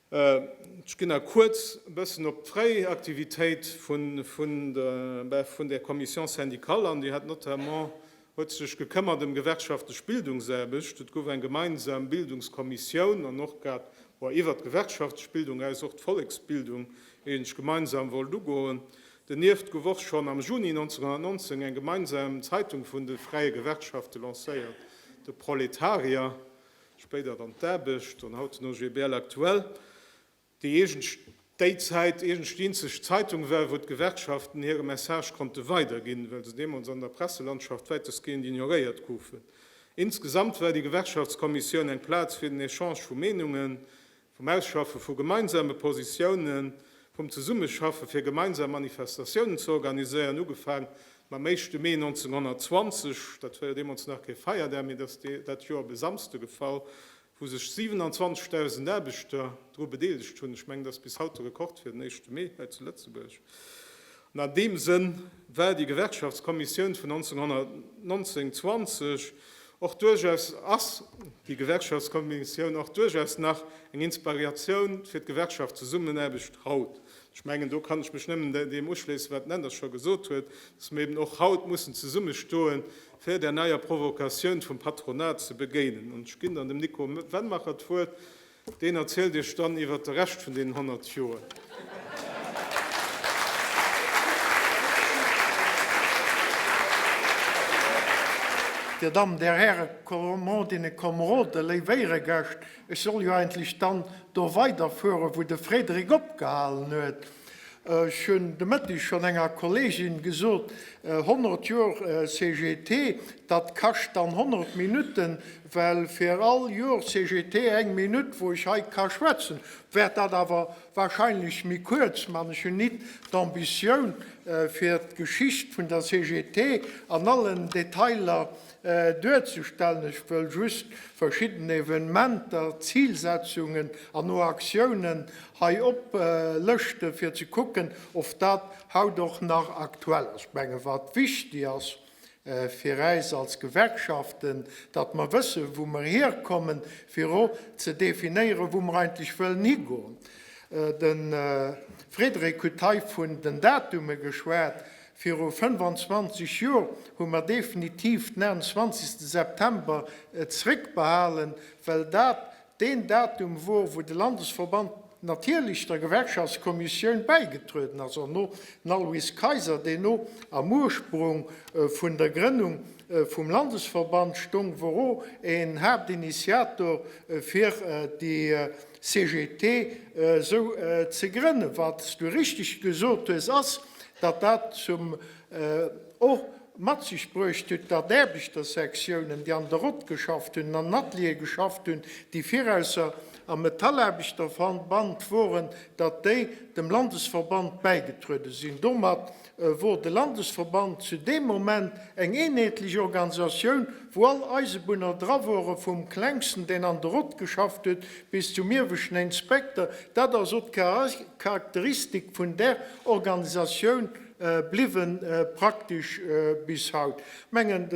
Ech ginn nach kuerz e bëssen op d'fréi Aktivitéit vun der Commission syndicale an. Déi hat notamment, huet sech gekëmmert ëm gewerkschaftlech Bildungsaarbecht. Et gouf eng gemeinsam Bildungskommissioun an och grad iwwert d'gewerkschaftlech Bildung aus och d'Volleksbildung eigentlech gemeinsam wollt ugoen. Donieft gouf och schonn am Juni 1919 eng gemeinsam Zeitung vun de fräie Gewerkschafte lancéiert, De Proletarier. spéider dann d'Aarbecht an haut den OGBL aktuell, déi eegenst déi Zäit eegenst déi eenzeg Zeitung war, wou d'Gewerkschaften hire Message konnte weiderginn, well se deemools an der Presselandschaft wäitestgehend ignoréiert goufen. Insgesamt war déi Gewerkschaftskommissioun eng Plaz fir den Echange vu Meenungen, vum Ausschaffe vu gemeinsame Positiounen, vum Zesummeschaffe fir gemeinsam Manifestatiounen ze organiséieren, ugefaang mam éischte Mee 1920, dat war jo deemools nach kee Feierdag, mee et ass dat Joer op e Samsde gefall, wou sech 27.000 Aarbechter dru bedeelegt hunn. Ech mengen, et ass bis haut de Rekord fir den éischte Mee hei zu Lëtzebuerg. An an deem Sënn war déi Gewerkschaftskommissioun vun 1919, 20 och duerchaus, ass déi Gewerkschaftskommissioun och duerchaus nach eng Inspariatioun fir d'Gewerkschaftszusammenaarbecht haut. Ech mengen, do kann ech mech nëmmen deem uschléissen, wat den Änder scho gesot huet, dass mer eben och haut mussen zesummestoen, fir där neier Provokatioun vum Patronat ze begéinen. An ech ginn dann dem Nico Wennmacher d'Wuert. Deen erzielt iech dann iwwert de Rescht vun deenen 100 Joer. Dir Dammen, Dir Hären, Kommodinnen, Komroden, léif Éiregäscht, ech soll jo eigentlech dann do weiderfueren, wou de Frédéric opgehalen huet. Ech hunn de Mëtteg schonn enger Kollegin gesot, 100 Joer CGT, dat kascht dann 100 Minutten, Well fir all Jor CGT eng Minutt wou ech hei ka schwätzen, wärt dat awer wahrscheinlech méi kuerz man. Ech hun nit d'Ambitioun fir d'Geschicht vun der CGT an allen Detailer duerzestellen. Ech wëll just verschidden Evenementer, Zilsetzungen an o Aktiounen hei oplëschten fir ze kucken of dat haut och nach aktuell ass. Ech mengen wat wichtig ass, fir äis als Gewerkschaften, datt mer wëssen, wou mer hierkommen, fir och ze definéieren, wou mer eigentlech wëllen higoen. De Frédéric huet hei vun den Datume geschwat. Viru 25 Joer hu mer definitiv den 21. September zréckbehalen, well dat Deen Datum wor, wou de Landesverband natierlech der Gewerkschaftskommissioun bäigetrueden ass an no Nalwies Kayser, deen no am Ursprung vun der Grënnung vum Landesverband stong, wor o een Haaptinitiator fir déi CGT esou ze grënnen. Wat s du richteg gesot hues ass, datt dat zum o Mat sech bruecht huet, datt d'Aarbechtersektiounen, déi an der Rott geschafft hunn, an den Ateliere geschafft hunn, déi virausser am Metallaarbechterverband woren, datt déi dem Landesverband bäigetruede sinn. Domat wor de Landesverband zu deem Moment eng eenheetlech Organisatioun, wou all Eisebunner dra woren, vum Klengsten, deen an der Rott geschafft huet, bis zum ieweschten Inspekter. Dat ass och d'Charakteristik vun där Organisatioun. bliwwen praktesch bis haut. Ech mengen,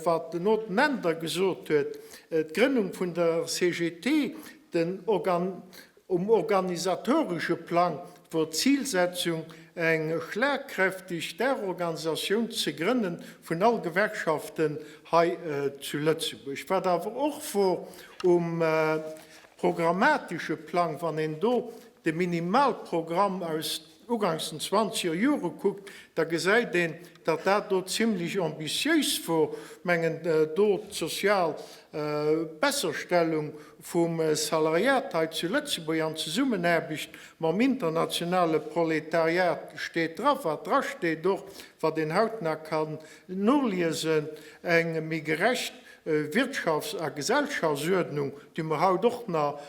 wat den Haut Mender gesot huet, d'Grënnung vun der CGT, den Organ, um organisatoresche Plang wor d'Zilsetzung eng schlagkräfteg Daachorganisatioun ze grënne vun all Gewerkschaften hei zu Lëtzebuerg. Wat awer och wor um programmatesche Plang, wann een do de Minimalprogramm aus ugangs den zwanzeger Jore kuckt, da gesäit een, datt dat do zimmlech ambitiéis wor, mengen do d'sozial Besserstellung vum Salariat hei zu Lëtzebuerg an Zesummenaarbecht mam internationale Proletariat steet dra wat drasteet, och wat een hautnah kann noliesen, eng méi gerecht Wirtschafts a Gesellschaftsuerdnung, déi mer haut och nach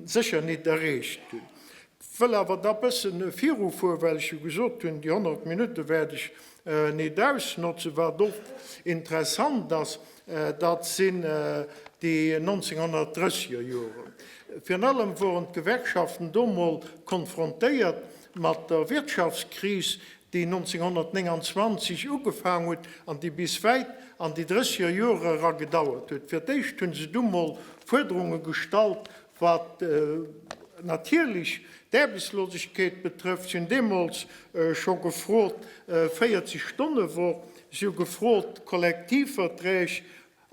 sécher nit erreecht hunn. Wëll awer da bëssen virufuer, well ech jo gesot hunn, déi 100 Minutte wäert ech nit ausnotzen. Wat och interessant ass, dat sinn déi 1930 er Joren. Virun allem woren d'Gewerkschaften do mol konfrontéiert mat der Wirtschaftskris, déi 1929 ugefaang huet an déi bis wäit an déi 30 er Jore era gedauert huet. Fir d'éischt hu se du mol Fuerderunge gestallt, Wat natierlech d'Aarbechtslosegkeet betrëfft, si hunn deemools scho gefrot, 40 Stonne Woch, si hu gefrot, Kollektivverträg,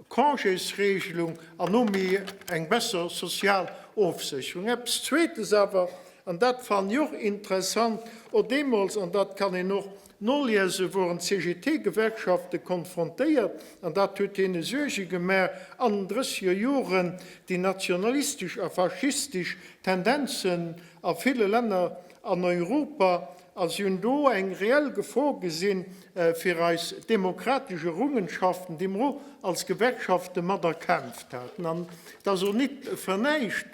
Congésregelung an no mir eng besser sozial Ofsécherung. Eppes Zweetes awer, an dat fannen ech och interessant, och deemools, an dat kann een och Noliese woren d'CGT-Gewerkschafte konfrontéiert, an dat huet hinnen Suerge gemaach, an den drësseger Joren déi nationalistesch a faschistesch Tendenzen a ville Länner an Europa, a si hunn do eng reell Gefor gesinn fir eis demokratesch Errungenschaften, déi mer och als Gewerkschaften mat erkämpft haten. An et ass och nit fir näischt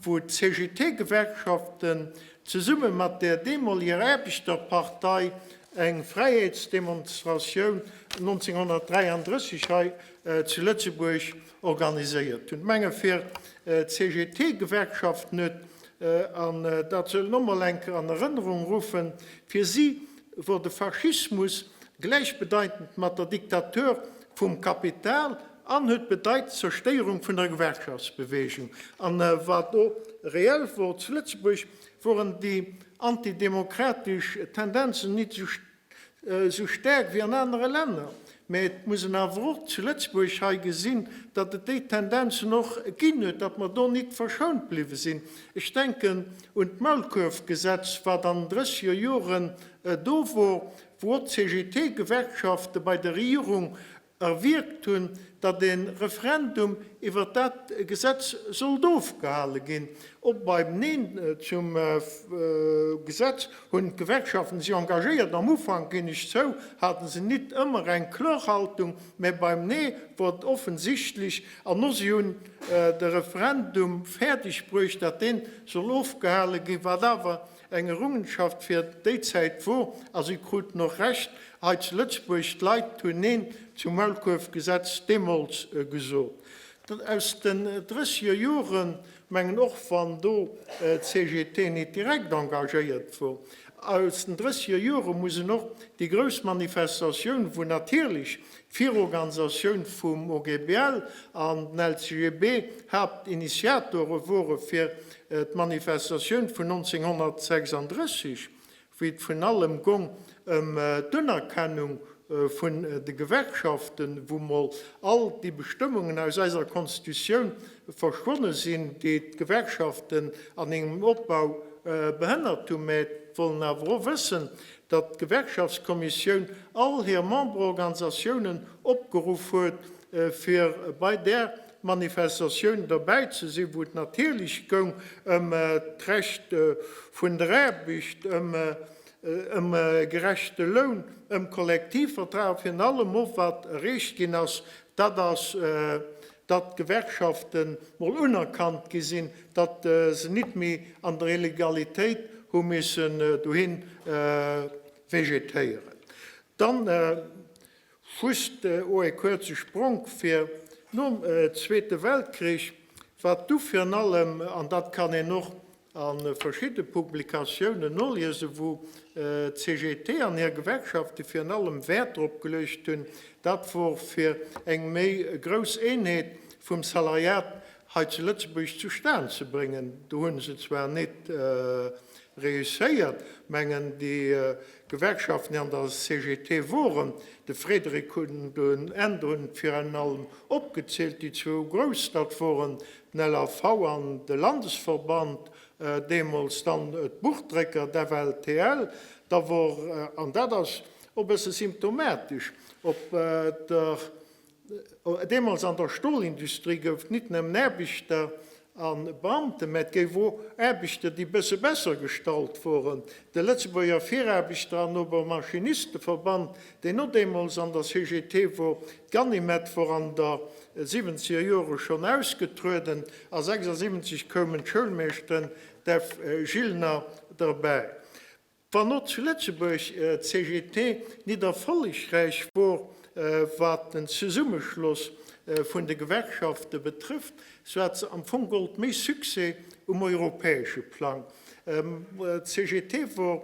wou d'CGT-Gewerkschaften zesumme mat der deemoliger Aarbechterpartei eng Fräiheetsdemonstratioun 1933 hei zu Lëtzebuerg organiséiert hunn. Menge fir d'CGT-Gewerkschaft net, an dat soll een och mol eng Kéier an Erënnerung ruffen, fir si wor de Faschismus gläichbedeitend mat der Diktatur vum Kapital an huet bedeit d'Zerstéierung vun der Gewerkschaftsbewegung. A wat do reell wor zu Lëtzebuerg, woren déi antidemokratesch Tendenzen nit esou staark wéi an anere Länner. Mä et muss een awer och zu Lëtzebuerg hei gesinn, datt et déi Tendenzen och ginn huet, datt mer do nit verschount bliwwe sinn. Ech denken un d'Maulkuerfgesetz, wat an drësseger Joren do wor, wou och d'CGT-Gewerkschafte bei der Regierung erwierkt hunn, datt e Referendum iwwert dat Gesetz sollt ofgehale ginn. Och beim Neen zum Gesetz hunn d'Gewerkschaften sech engagéiert. Am Ufank, ginn ech zou, hate se nit ëmmer eng kloer Haltung, mä beim Nee wor et offensichtlech. An no si hunn de Referendum fäerdeg bruecht, datt deen soll ofgehale ginn, wat awer Eng Errungenschaft fir déi Zäit wor, a si kruten och Recht, hei zu Lëtzebuerg, d'Leit hunn Neen zum Maulkuerfgesetz deemools gesot. Aus den drësseger Joren, mengen, och wann do d'CGT nit direkt engagéiert wor, aus den drësseger Jore muss een och déi grouss Manifestatioun, wou natierlech D'Virorganisatioun vum OGBL an den LCGB, Haaptinitiatoren wore fir d'Manifestatioun vun 1936, wéi et vrun allem gong ëm d'Unerkennung vun de Gewerkschaften, wou mol all déi Bestëmmungen aus eiser Constitutioun verschwonne sinn, déi d'Gewerkschaften an hingem Opbau behënnert hunn, mä wollen awer och wëssen, datt d'Gewerkschaftskommissioun all hir Memberorganisatiounen opgeruff huet, fir bei där Manifestatioun dobäi ze sinn, wou et natierlech goung ëm d'Recht vun der Aarbecht, ëm e gerechte Loun, ëm Kollektivvertrag, virun allem och, wat erreecht ginn ass, dat ass datt d'Gewerkschaften mol unerkannt gi sinn, datt se nit méi an der Illegalitéit hu missen dohin vegetéieren. Dann just o e kuerze Spronk fir nom Zweete Weltkrich, wat du virun allem, an dat kann een och a verschidde Publikatiounen noliesen, wou d'CGT an hir Gewerkschafte virun allem Wäert drop geluecht hunn, dat wor fir eng méi grouss Eenheet vum Salariat hei zu Lëtzebuerg zustan ze bréngen. Do hu se zwar nit reusséiert, mengen déi Gewerkschaften, déi an der CGT woren, de Frédéric hunn do en Enn drun, virun allem opgezielt, déi zwou grouss, dat woren LAV an de Landesverband, deemools dann d'Buchdrécker, d'FLTL, da wor, an dat ass och e bësse symptomatesch, op der, deemools an der Stolindustrie gouf nit nëmmen Aarbechter a Beamte, mä et gouf och Aarbechter, déi e bësse besser gestallt woren, de Lëtzebuerger Viraarbechter an Obermaschinisteverband, deen no deemools an der CGT wor, d'Ganimède wor an der siwwenzeger Jore schonn ausgetrueden, a 76 koumen d'Schoulmeeschten, d'Ev. Gilner, derbäi. Wann och zu Lëtzebuerg d'CGT nit erfollegräich wor, wat den Zesummeschloss vun de Gewerkschafte betrëfft, sou hat se am Fong gollt méi Succès um europäesche Plang. D'CGT wor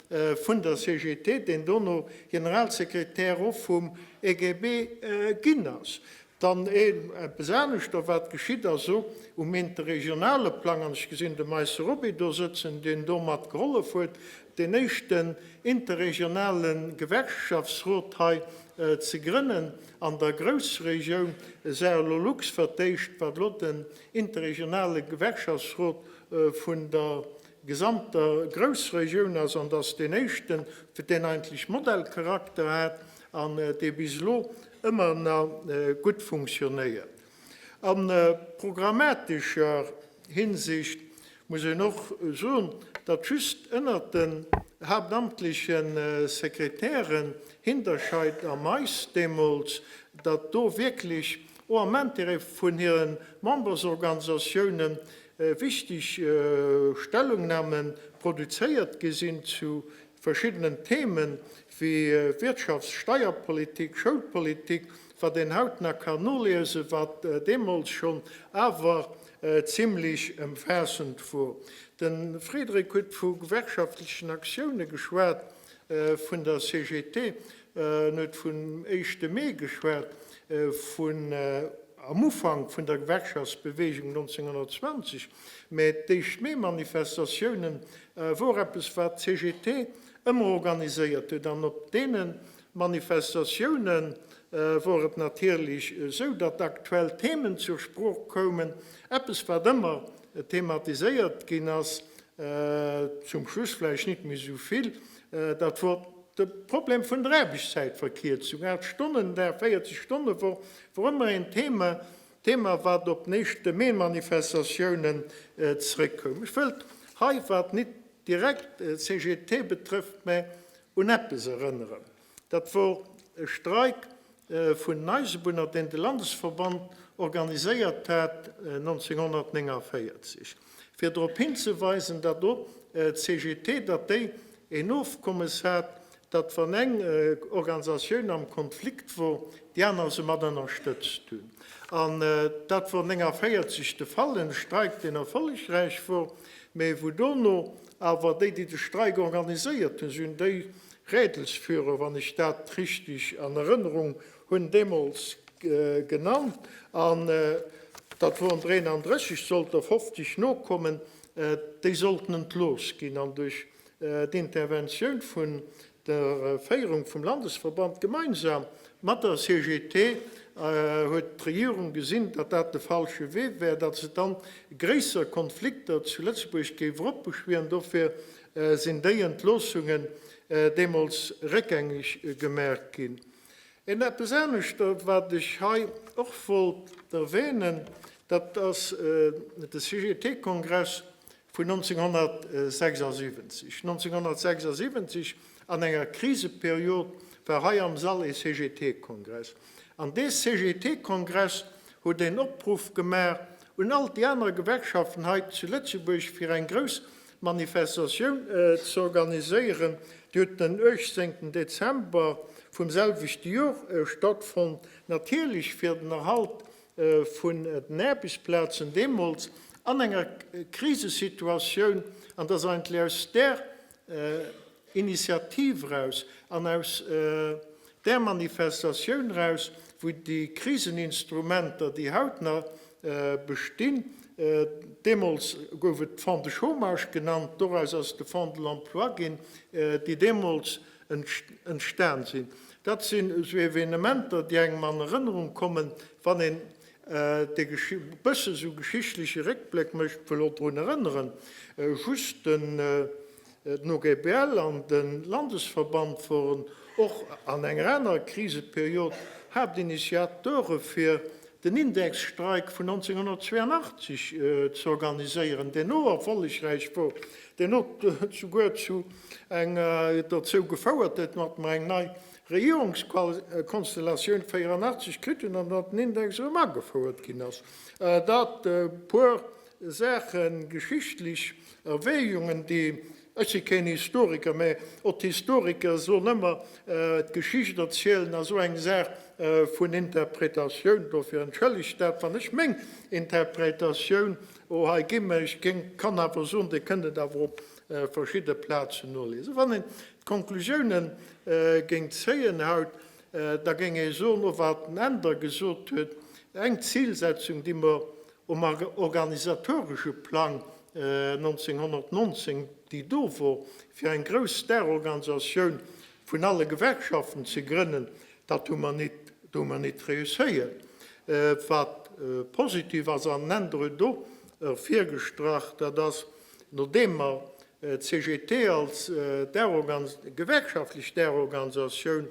vun der CGT, deen dono Generalsekretär och vum EGB ginn ass. Dann eppes anescht da wat geschitt ass, esou um interregionale Plang, an ech gesinn de Meisse Roby do sëtzen, deen do mat gehollef huet deen éischten interregionale Gewerkschaftsrot hei ze grënnen an der Groussregioun Sahelolux, wat d'éischt wat elo den interregionale Gewerkschaftsrot vun der gesamter Groussregioun ass an dass deen éischten, fir deen eigentlech Modellcharakter hat an dee bis elo ëmmer na gutt funktionéiert. A programmatescher Hinsicht muss een och soen, datt just ënnert den haaptamtleche Sekretären Hinterscheid a Mais deemools, datt do wierklech och am Intérêt vun hire Membersorganisatiounen wichteg Stellungnahme produzéiert gi sinn zu verschiddenen Themen, wéi Wirtschafts-, Steierpolitik, Schoulpolitik, wat een haut nach kann noliesen, wat deemools schonn awer zimmlech ëmfaassend wor. De Frédéric huet vu gewerkschaftlechen Aktioune geschwat vun der CGT, En huet vum éischte Mee geschwat, vun am Ufank vun der Gewerkschaftsbeweegung 1920. Mä d'éischt Mee-Manifestatioune wor eppes, wat d'CGT ëmmer organiséiert huet. An op deene Manifestatioune wor et natierlech esou, datt aktuell Themen zur Sprooch koumen. Eppes, wat ëmmer thematiséiert ginn ass, zum Schluss vläicht net méi esou vill, Dat wor de Problem vun der Aarbechtszäitverkierzung. Aacht Stonnen Dag, 40 Stonne Woch wor ëmmer een Thema, Thema wat op den éischte Mee-Manifestatiounen zréck koum. Ech wëllt hei, wat nit direkt d'CGT betrëfft, mä un eppes erënneren. Dat wor e Streik vun den Eisebunner, deen de Landesverband organiséiert hat 1949, fir drop hinzeweisen, datt och d'CGT, datt déi een Ofkommes hat, datt wann eng Organisatioun am Konflikt wor, déi aner se mat ënnerstëtzt hunn. An dat wor 49 de Fall, en Streik, deen erfollegräich wor, mä wou dono awer déi, déi de Streik organiséiert hunn, si hunn déi Rädelsführer, wann ech dat richtig an Erënnerung hunn, deemools genannt. An dat woren 33, sollt der 50 nokommen, déi sollten entlooss ginn an duerch d'Interventioun vun der Féierung vum Landesverband gemeinsam mat der CGT huet d'Regierung gesinn, datt dat de falsche Wee wär, datt se dann gréisser Konflikter zu Lëtzebuerg géif eropbeschwieren. Dofir Sinn déi Entloossungen deemools réckgängeg gemaach ginn? Et eppes aneschtert, wat ech hei och wollt erwähnen, dat ass de CGT-Kongress vun 1976. 1976, an enger Kriseperiod, war hei am Sall ee CGT-Kongress. An dee CGT-Kongress huet een Opruff gemaach un all déi aner Gewerkschaften hei zu Lëtzebuerg, fir eng grouss D'Manifestatioun ze organiséieren, déi huet den 18 Dezember vum selwechte Jor stattfonnt, natierlech fir den Erhalt vun den Aarbechtsplazen deemools an enger Krisesituatioun, an dass eigentlech aus där Initiativ raus an aus där Manifestatioun raus, wou déi Kriseninstrumenter, déi haut nach bestinn, deemools gouf et Fonds de chômage genannt, doraus ass de Fonds de l'emploi ginn, déi deemools entstan sinn, dat sinn esou Evenementer, déi engem an Erënnerung kommen, wann een e bësse sou geschichtleche Réckbléck mécht. Ech wëll och drun erënneren, just den. D'Nogpl an de Landesverband woren och an enger anerer Kriseperiod Haaptinitiateure fir den Indexstreik vun 1982 ze organiséieren, deen och erfollegräich wor, deen och souguer zu enger dozou gefouert huet, datt mer eng nei Regierungskonstellatioun 1984 kritt hunn an datt den Index erëm agefouert ginn ass. Dat puer Saache geschichtlech. Erwägungen, déi, ech si keen Historiker, mä och d'Historiker soen ëmmer, d'Geschicht erzielen ass esou eng Saach vun Interpretatioun. Dofir entschëllegt dat, wann ech meng Interpretatioun hei ginn, mä ech kann awer soen, Dir kënnt et awer op verschidde Plazen noliesen. Wann een d'Conclusiounen géing zéien haut, da géing ee soen, och wat den Änder gesot huet, eng Zilsetzung, déi mer Um organisatoresche Plang 1919 déi do wor, fir eng grouss Starorganisatioun vun alle Gewerkschaften ze grënnen, dat hu mer nit, do hu mer nit réusséiert. Wat positiv ass, an Enn dru do ervirgestrach, dat ass, nodeem mer d'CGT als gewerkschaftlech Starorganisatioun,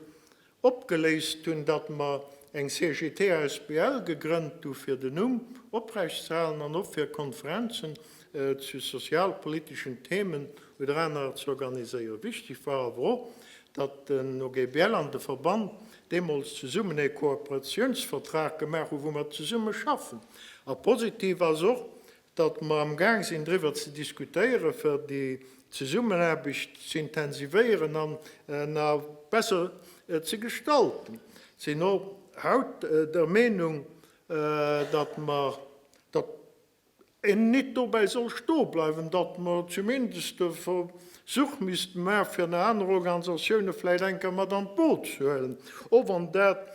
Opgeléist hunn, datt mer eng CGT asbl gegrënnt hu fir den Numm oprecht ze halen an och fir Konferenzen zu sozialpoliteschen Themen oder anerer ze organiséieren. Wichteg war awer och, datt den OGBL an de Verband deemools zesummen ee Kooperatiounsvertrag gemaach hu wou mer zesumme schaffen. A positiv ass och, datt mer am Gaang sinn driwwer ze diskutéiere fir déi Zesummenaarbecht z'intensivéieren an a besser ze gestalten. Sinn och haut der Meenung, datt mer, datt een nit dobäi soll stoe bleiwen, datt mer zumindest e Versuch misste maache fir nach aner Organisatioune vläicht eng Kéier mat an d'Boot ze huelen, och wann dat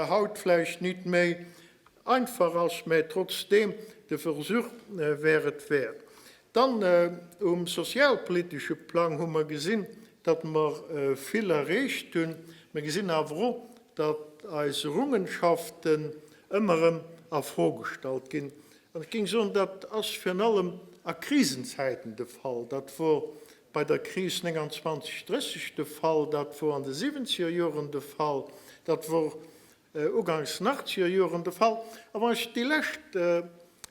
haut vläicht nit méi Einfach ass, mä trotzdeem de Versuch wär et wäert. Dann um sozialpolitesche Plang hu mer gesinn, datt mer vill erreecht hunn. Mer gesinn awer och, datt eis Errungenschaften ëmmer erëm a Fro gestallt ginn. An ech géing soen, dat ass virun allem a Krisenzäiten de Fall. Dat wor bei der Kris 29, 30 de Fall, dat wor an de siwwenzeger Joren de Fall, dat wor Uganks Nachtsierjoren de Fall. A wann ech déi lescht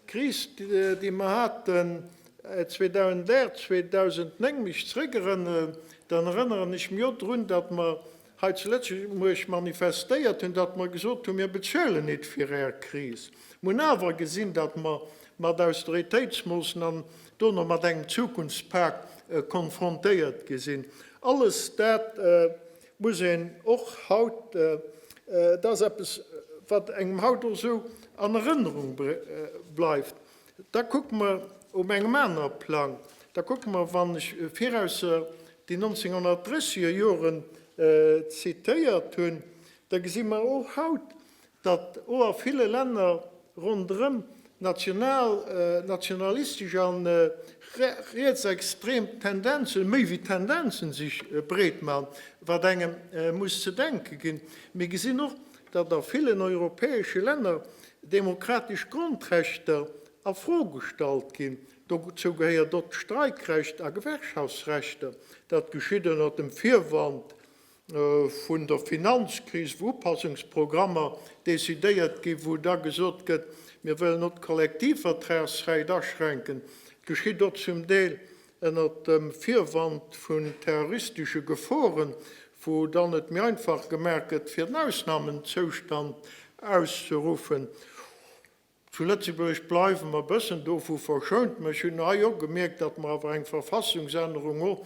Kris, déi mer haten 2008, 2009 mech zrëckerënneren, dann erënneren ech mech och drun, datt mer hei zu Lëtzebuerg manifestéiert hunn, datt mer gesot hunn, mir bezuelen nit fir Är Kris. Mer hunn awer gesinn, datt mer mat Austeritéitsmoossnamen do no mat engem Zukunftspak konfrontéiert gi sinn. Alles dat muss een och haut, et ass eppes wat engem haut och esou an Erënnerung bleift, da kucke mer op engem anere Plang, da kucke mer, wann ech viraus déi 1930er Joren zitéiert hunn, da gesi mer och haut, datt o a ville Länner ronderëm national, nationalistesch a rietsextrem Tendenzen, méi wéi Tendenzen, sech breet man, wat engem muss ze denke ginn. Mir gesinn och, datt a villen europäesche Länner demokratesch Grondrechter a Fro gestallt ginn. Dozou gehéiert och d'Streikrecht a Gewerkschaftsrechter. Dat geschitt ënnert dem Virwand, vun der Finanzkris, wou Upassungsprogrammer decidéiert ginn, wou da gesot gëtt, mir wëllen och d'Kollektivvertragsrecht aschränken, geschitt och zum Deel ënnert dem Virwand vun terroristesche Geforen, wou dann et méi einfach gemaach gëtt, fir en Ausnamenzoustand auszeruffen. Zu Lëtzebuerg bleiwe mer e bëssen dovu verschount, mä ech hunn hei och gemierkt, datt mer awer eng Verfassungsännerung och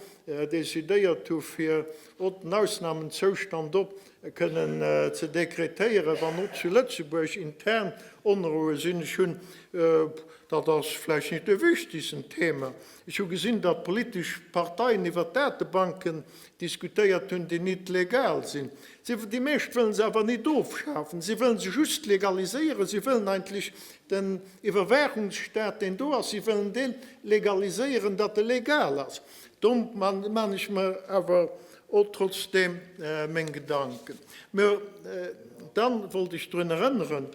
decidéiert hu fir och den Ausnamenzoustand och kënnen ze dekretéieren, wann och zu Lëtzebuerg intern Onroue sinn. Ech hunn, dat ass vläicht net de wichtegsten Thema, ech hu gesinn, datt politesch Parteien iwwer Datebanken diskutéiert hunn, déi nit legal sinn. Déi meescht wëllen se awer nit ofschafen, si wëllen se just legaliséieren. Si wëllen eigentlech den Iwwerwaachungsstaat, deen do ass, si wëllen dee legaliséieren, datt e legal ass. Do maan ech mer awer och trotzdem meng Gedanken. Mä dann wollt ech drun erënneren,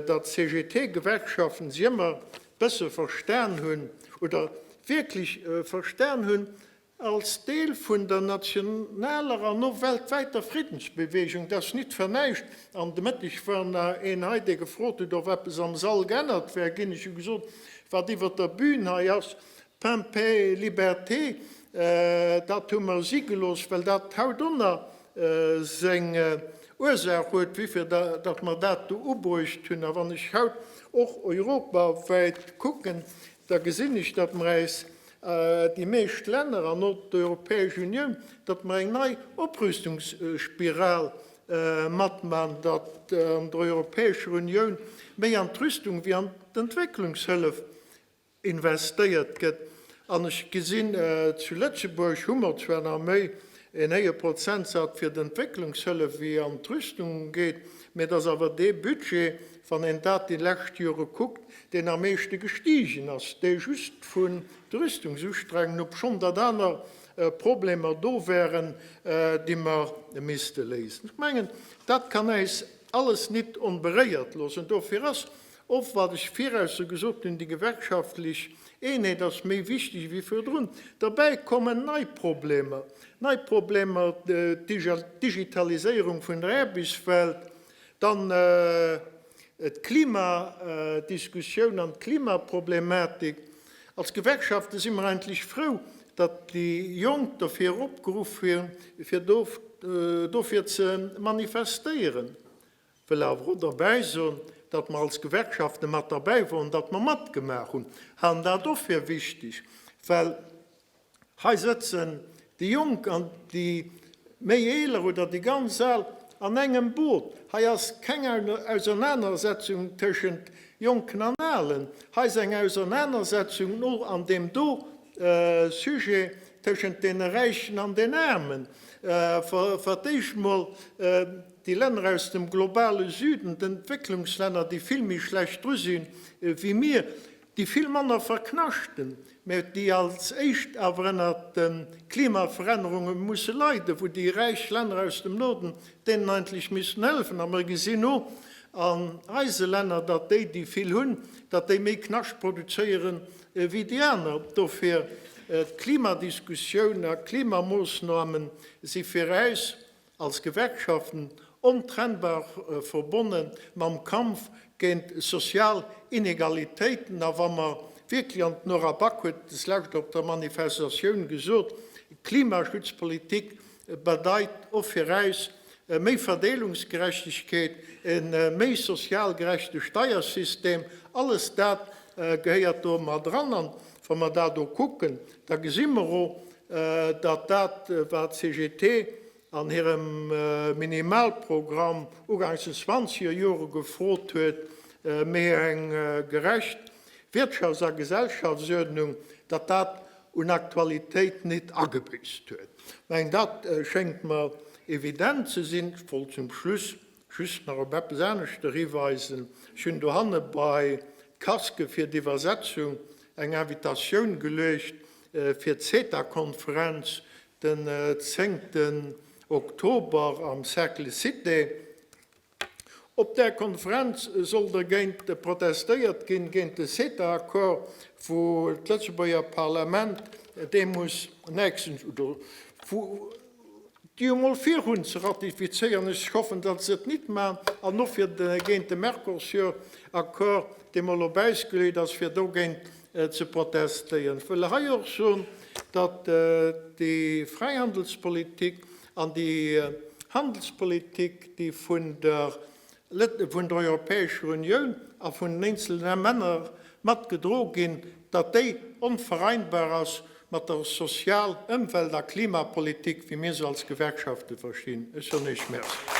datt d'CGT-Gewerkschaften si ëmmer bësse verstan hunn oder wierklech verstan hunn, Als Deel vun der nationaler an och weltwäiter Friddensbewegung, dat ass nit fir näischt, an de Mëtteg war nach een hei, dee gefrot huet, ob eppes am Sall geännert wär ginn, ech hu gesot, wat iwwer der Bühn hei ass, Pain, Paix et Liberté, dat hu mer si gelooss, well dat hautdonner seng Ursaach huet, wéifir datt mer dat do ubruecht hunn. A wann ech haut och europawäit kucken, da gesinn ech, datt mer äis Déi meescht Länner an och d'Europäesch Unioun, datt mer eng nei Oprüstungsspiral matman, datt an der Europäescher Unioun méi an d'Rüstung ewéi an d'Entwécklungshëllef investéiert gëtt. An ech gesinn, zu Lëtzebuerg hu mer zwar nach méi en héije Prozentsaz fir d'Entwécklungshëllef ewéi an d'Rüstung geet, mä et ass awer dee Budget, wann een dat déi lescht Jore kuckt, deen am meeschte gestigen ass, dee just vun de Rüstungsustrengen, obschonn datt aner Problemer do wären, déi mer misste léisen. Ech mengen, dat kann äis alles nit onberéiert loossen. Dofir ass och, wat ech viraus scho gesot hunn, déi gewerkschaftlech Eenheet ass méi wichteg ewéi virdrun. Derbäi kommen nei Problemer, nei Problemer, d'Digitaliséierung vun der Aarbechtswelt, Dann d'Klima Diskussioun an d'Klimaproblematik. Als Gewerkschafte si mer eigentlech frou, datt déi Jonk dofir opgeruff hu fir dofir ze manifestéieren. Wëll awer och derbäi soen, datt mer als Gewerkschafte mat derbäi woren, datt mer matgemaach hunn, halen dat och fir wichteg, well Hei sëtzen déi Jonk an déi méi eeler oder déi ganz al an engem Boot. Hei ass keng Ausernanersetzung tëschent Jonken an Alen. Hei ass eng Ausernanersetzung no an deem do Sujet tëschent deene Räichen an den Aarmen. Fir d'éischt mol déi Länner aus dem globale Süden, d'Entwécklungslänner, déi vill méi schlecht dru sinn ewéi mir. déi vill manner verknaschten, mä déi als éischt awer ënner de Klimaverännerunge musse leiden, wou déi räich Länner aus dem Norden deenen eigentlech missten hëllefen. A mer gesinn no an eise Länner, datt déi, déi vill hunn, datt déi méi Knascht produzéieren wéi déi aner. Dofir, d'Klimadiskussioun a Klimamoosnamen si fir äis als Gewerkschaften ontrennbar verbonne mam Kampf géint sozial Inegalitéiten. A wa mer wierklech, an d'Nora Back huet et deslescht op der Manifestatioun gesot, Klimaschutzpolitik bedeit och fir äis méi Verdeelungsgerechtegkeet, e méi sozial gerechte Steiersystem, alles dat gehéiert do mat eran. An wa mer dat o kucken, da gesi mer o, datt dat wat CGT an hirem Minimalprogramm ugangs den zwanzeger Jore gefrot huet, méi eng gerecht Wirtschafts a Gesellschaftsuerdnung, datt dat un Aktualitéit nit agebüsst huet. Ech mengen dat schéngt mer evident ze sinn. Ech wollt zum Schluss Just nach op eppes aneschter hiweisen, Ech hunn dohanne bei d'Casque fir d'Iwwersetzung eng Invitatioun geluecht fir d'CETA-Konferenz den 10 Oktober am Cercle Cité. Op där Konferenz soll dergéint protestéiert ginn, géint de CETA-Accord, wou d'Lëtzebuerger Parlament deemools nächstens, oder wou, déi emol virhunn ze ratifizéieren, ech hoffen, datt se et nit man, an och fir géint de Mercosur-Accord, dee mol op Äis gelueet ass, fir dogéint ze protestéieren. Ech wëll hei och soen, datt déi Fräihandelspolitik an déi Handelspolitik, déi vun der Lët'e vun der Europäescher Unioun a vun den eenzelne Männer mat gedro ginn, datt déi onvereinbar ass mat der Sozial-, Ëmwelt a Klimapolitik, wéi mir se als Gewerkschafte verstinn. Ech soen Iech Merci.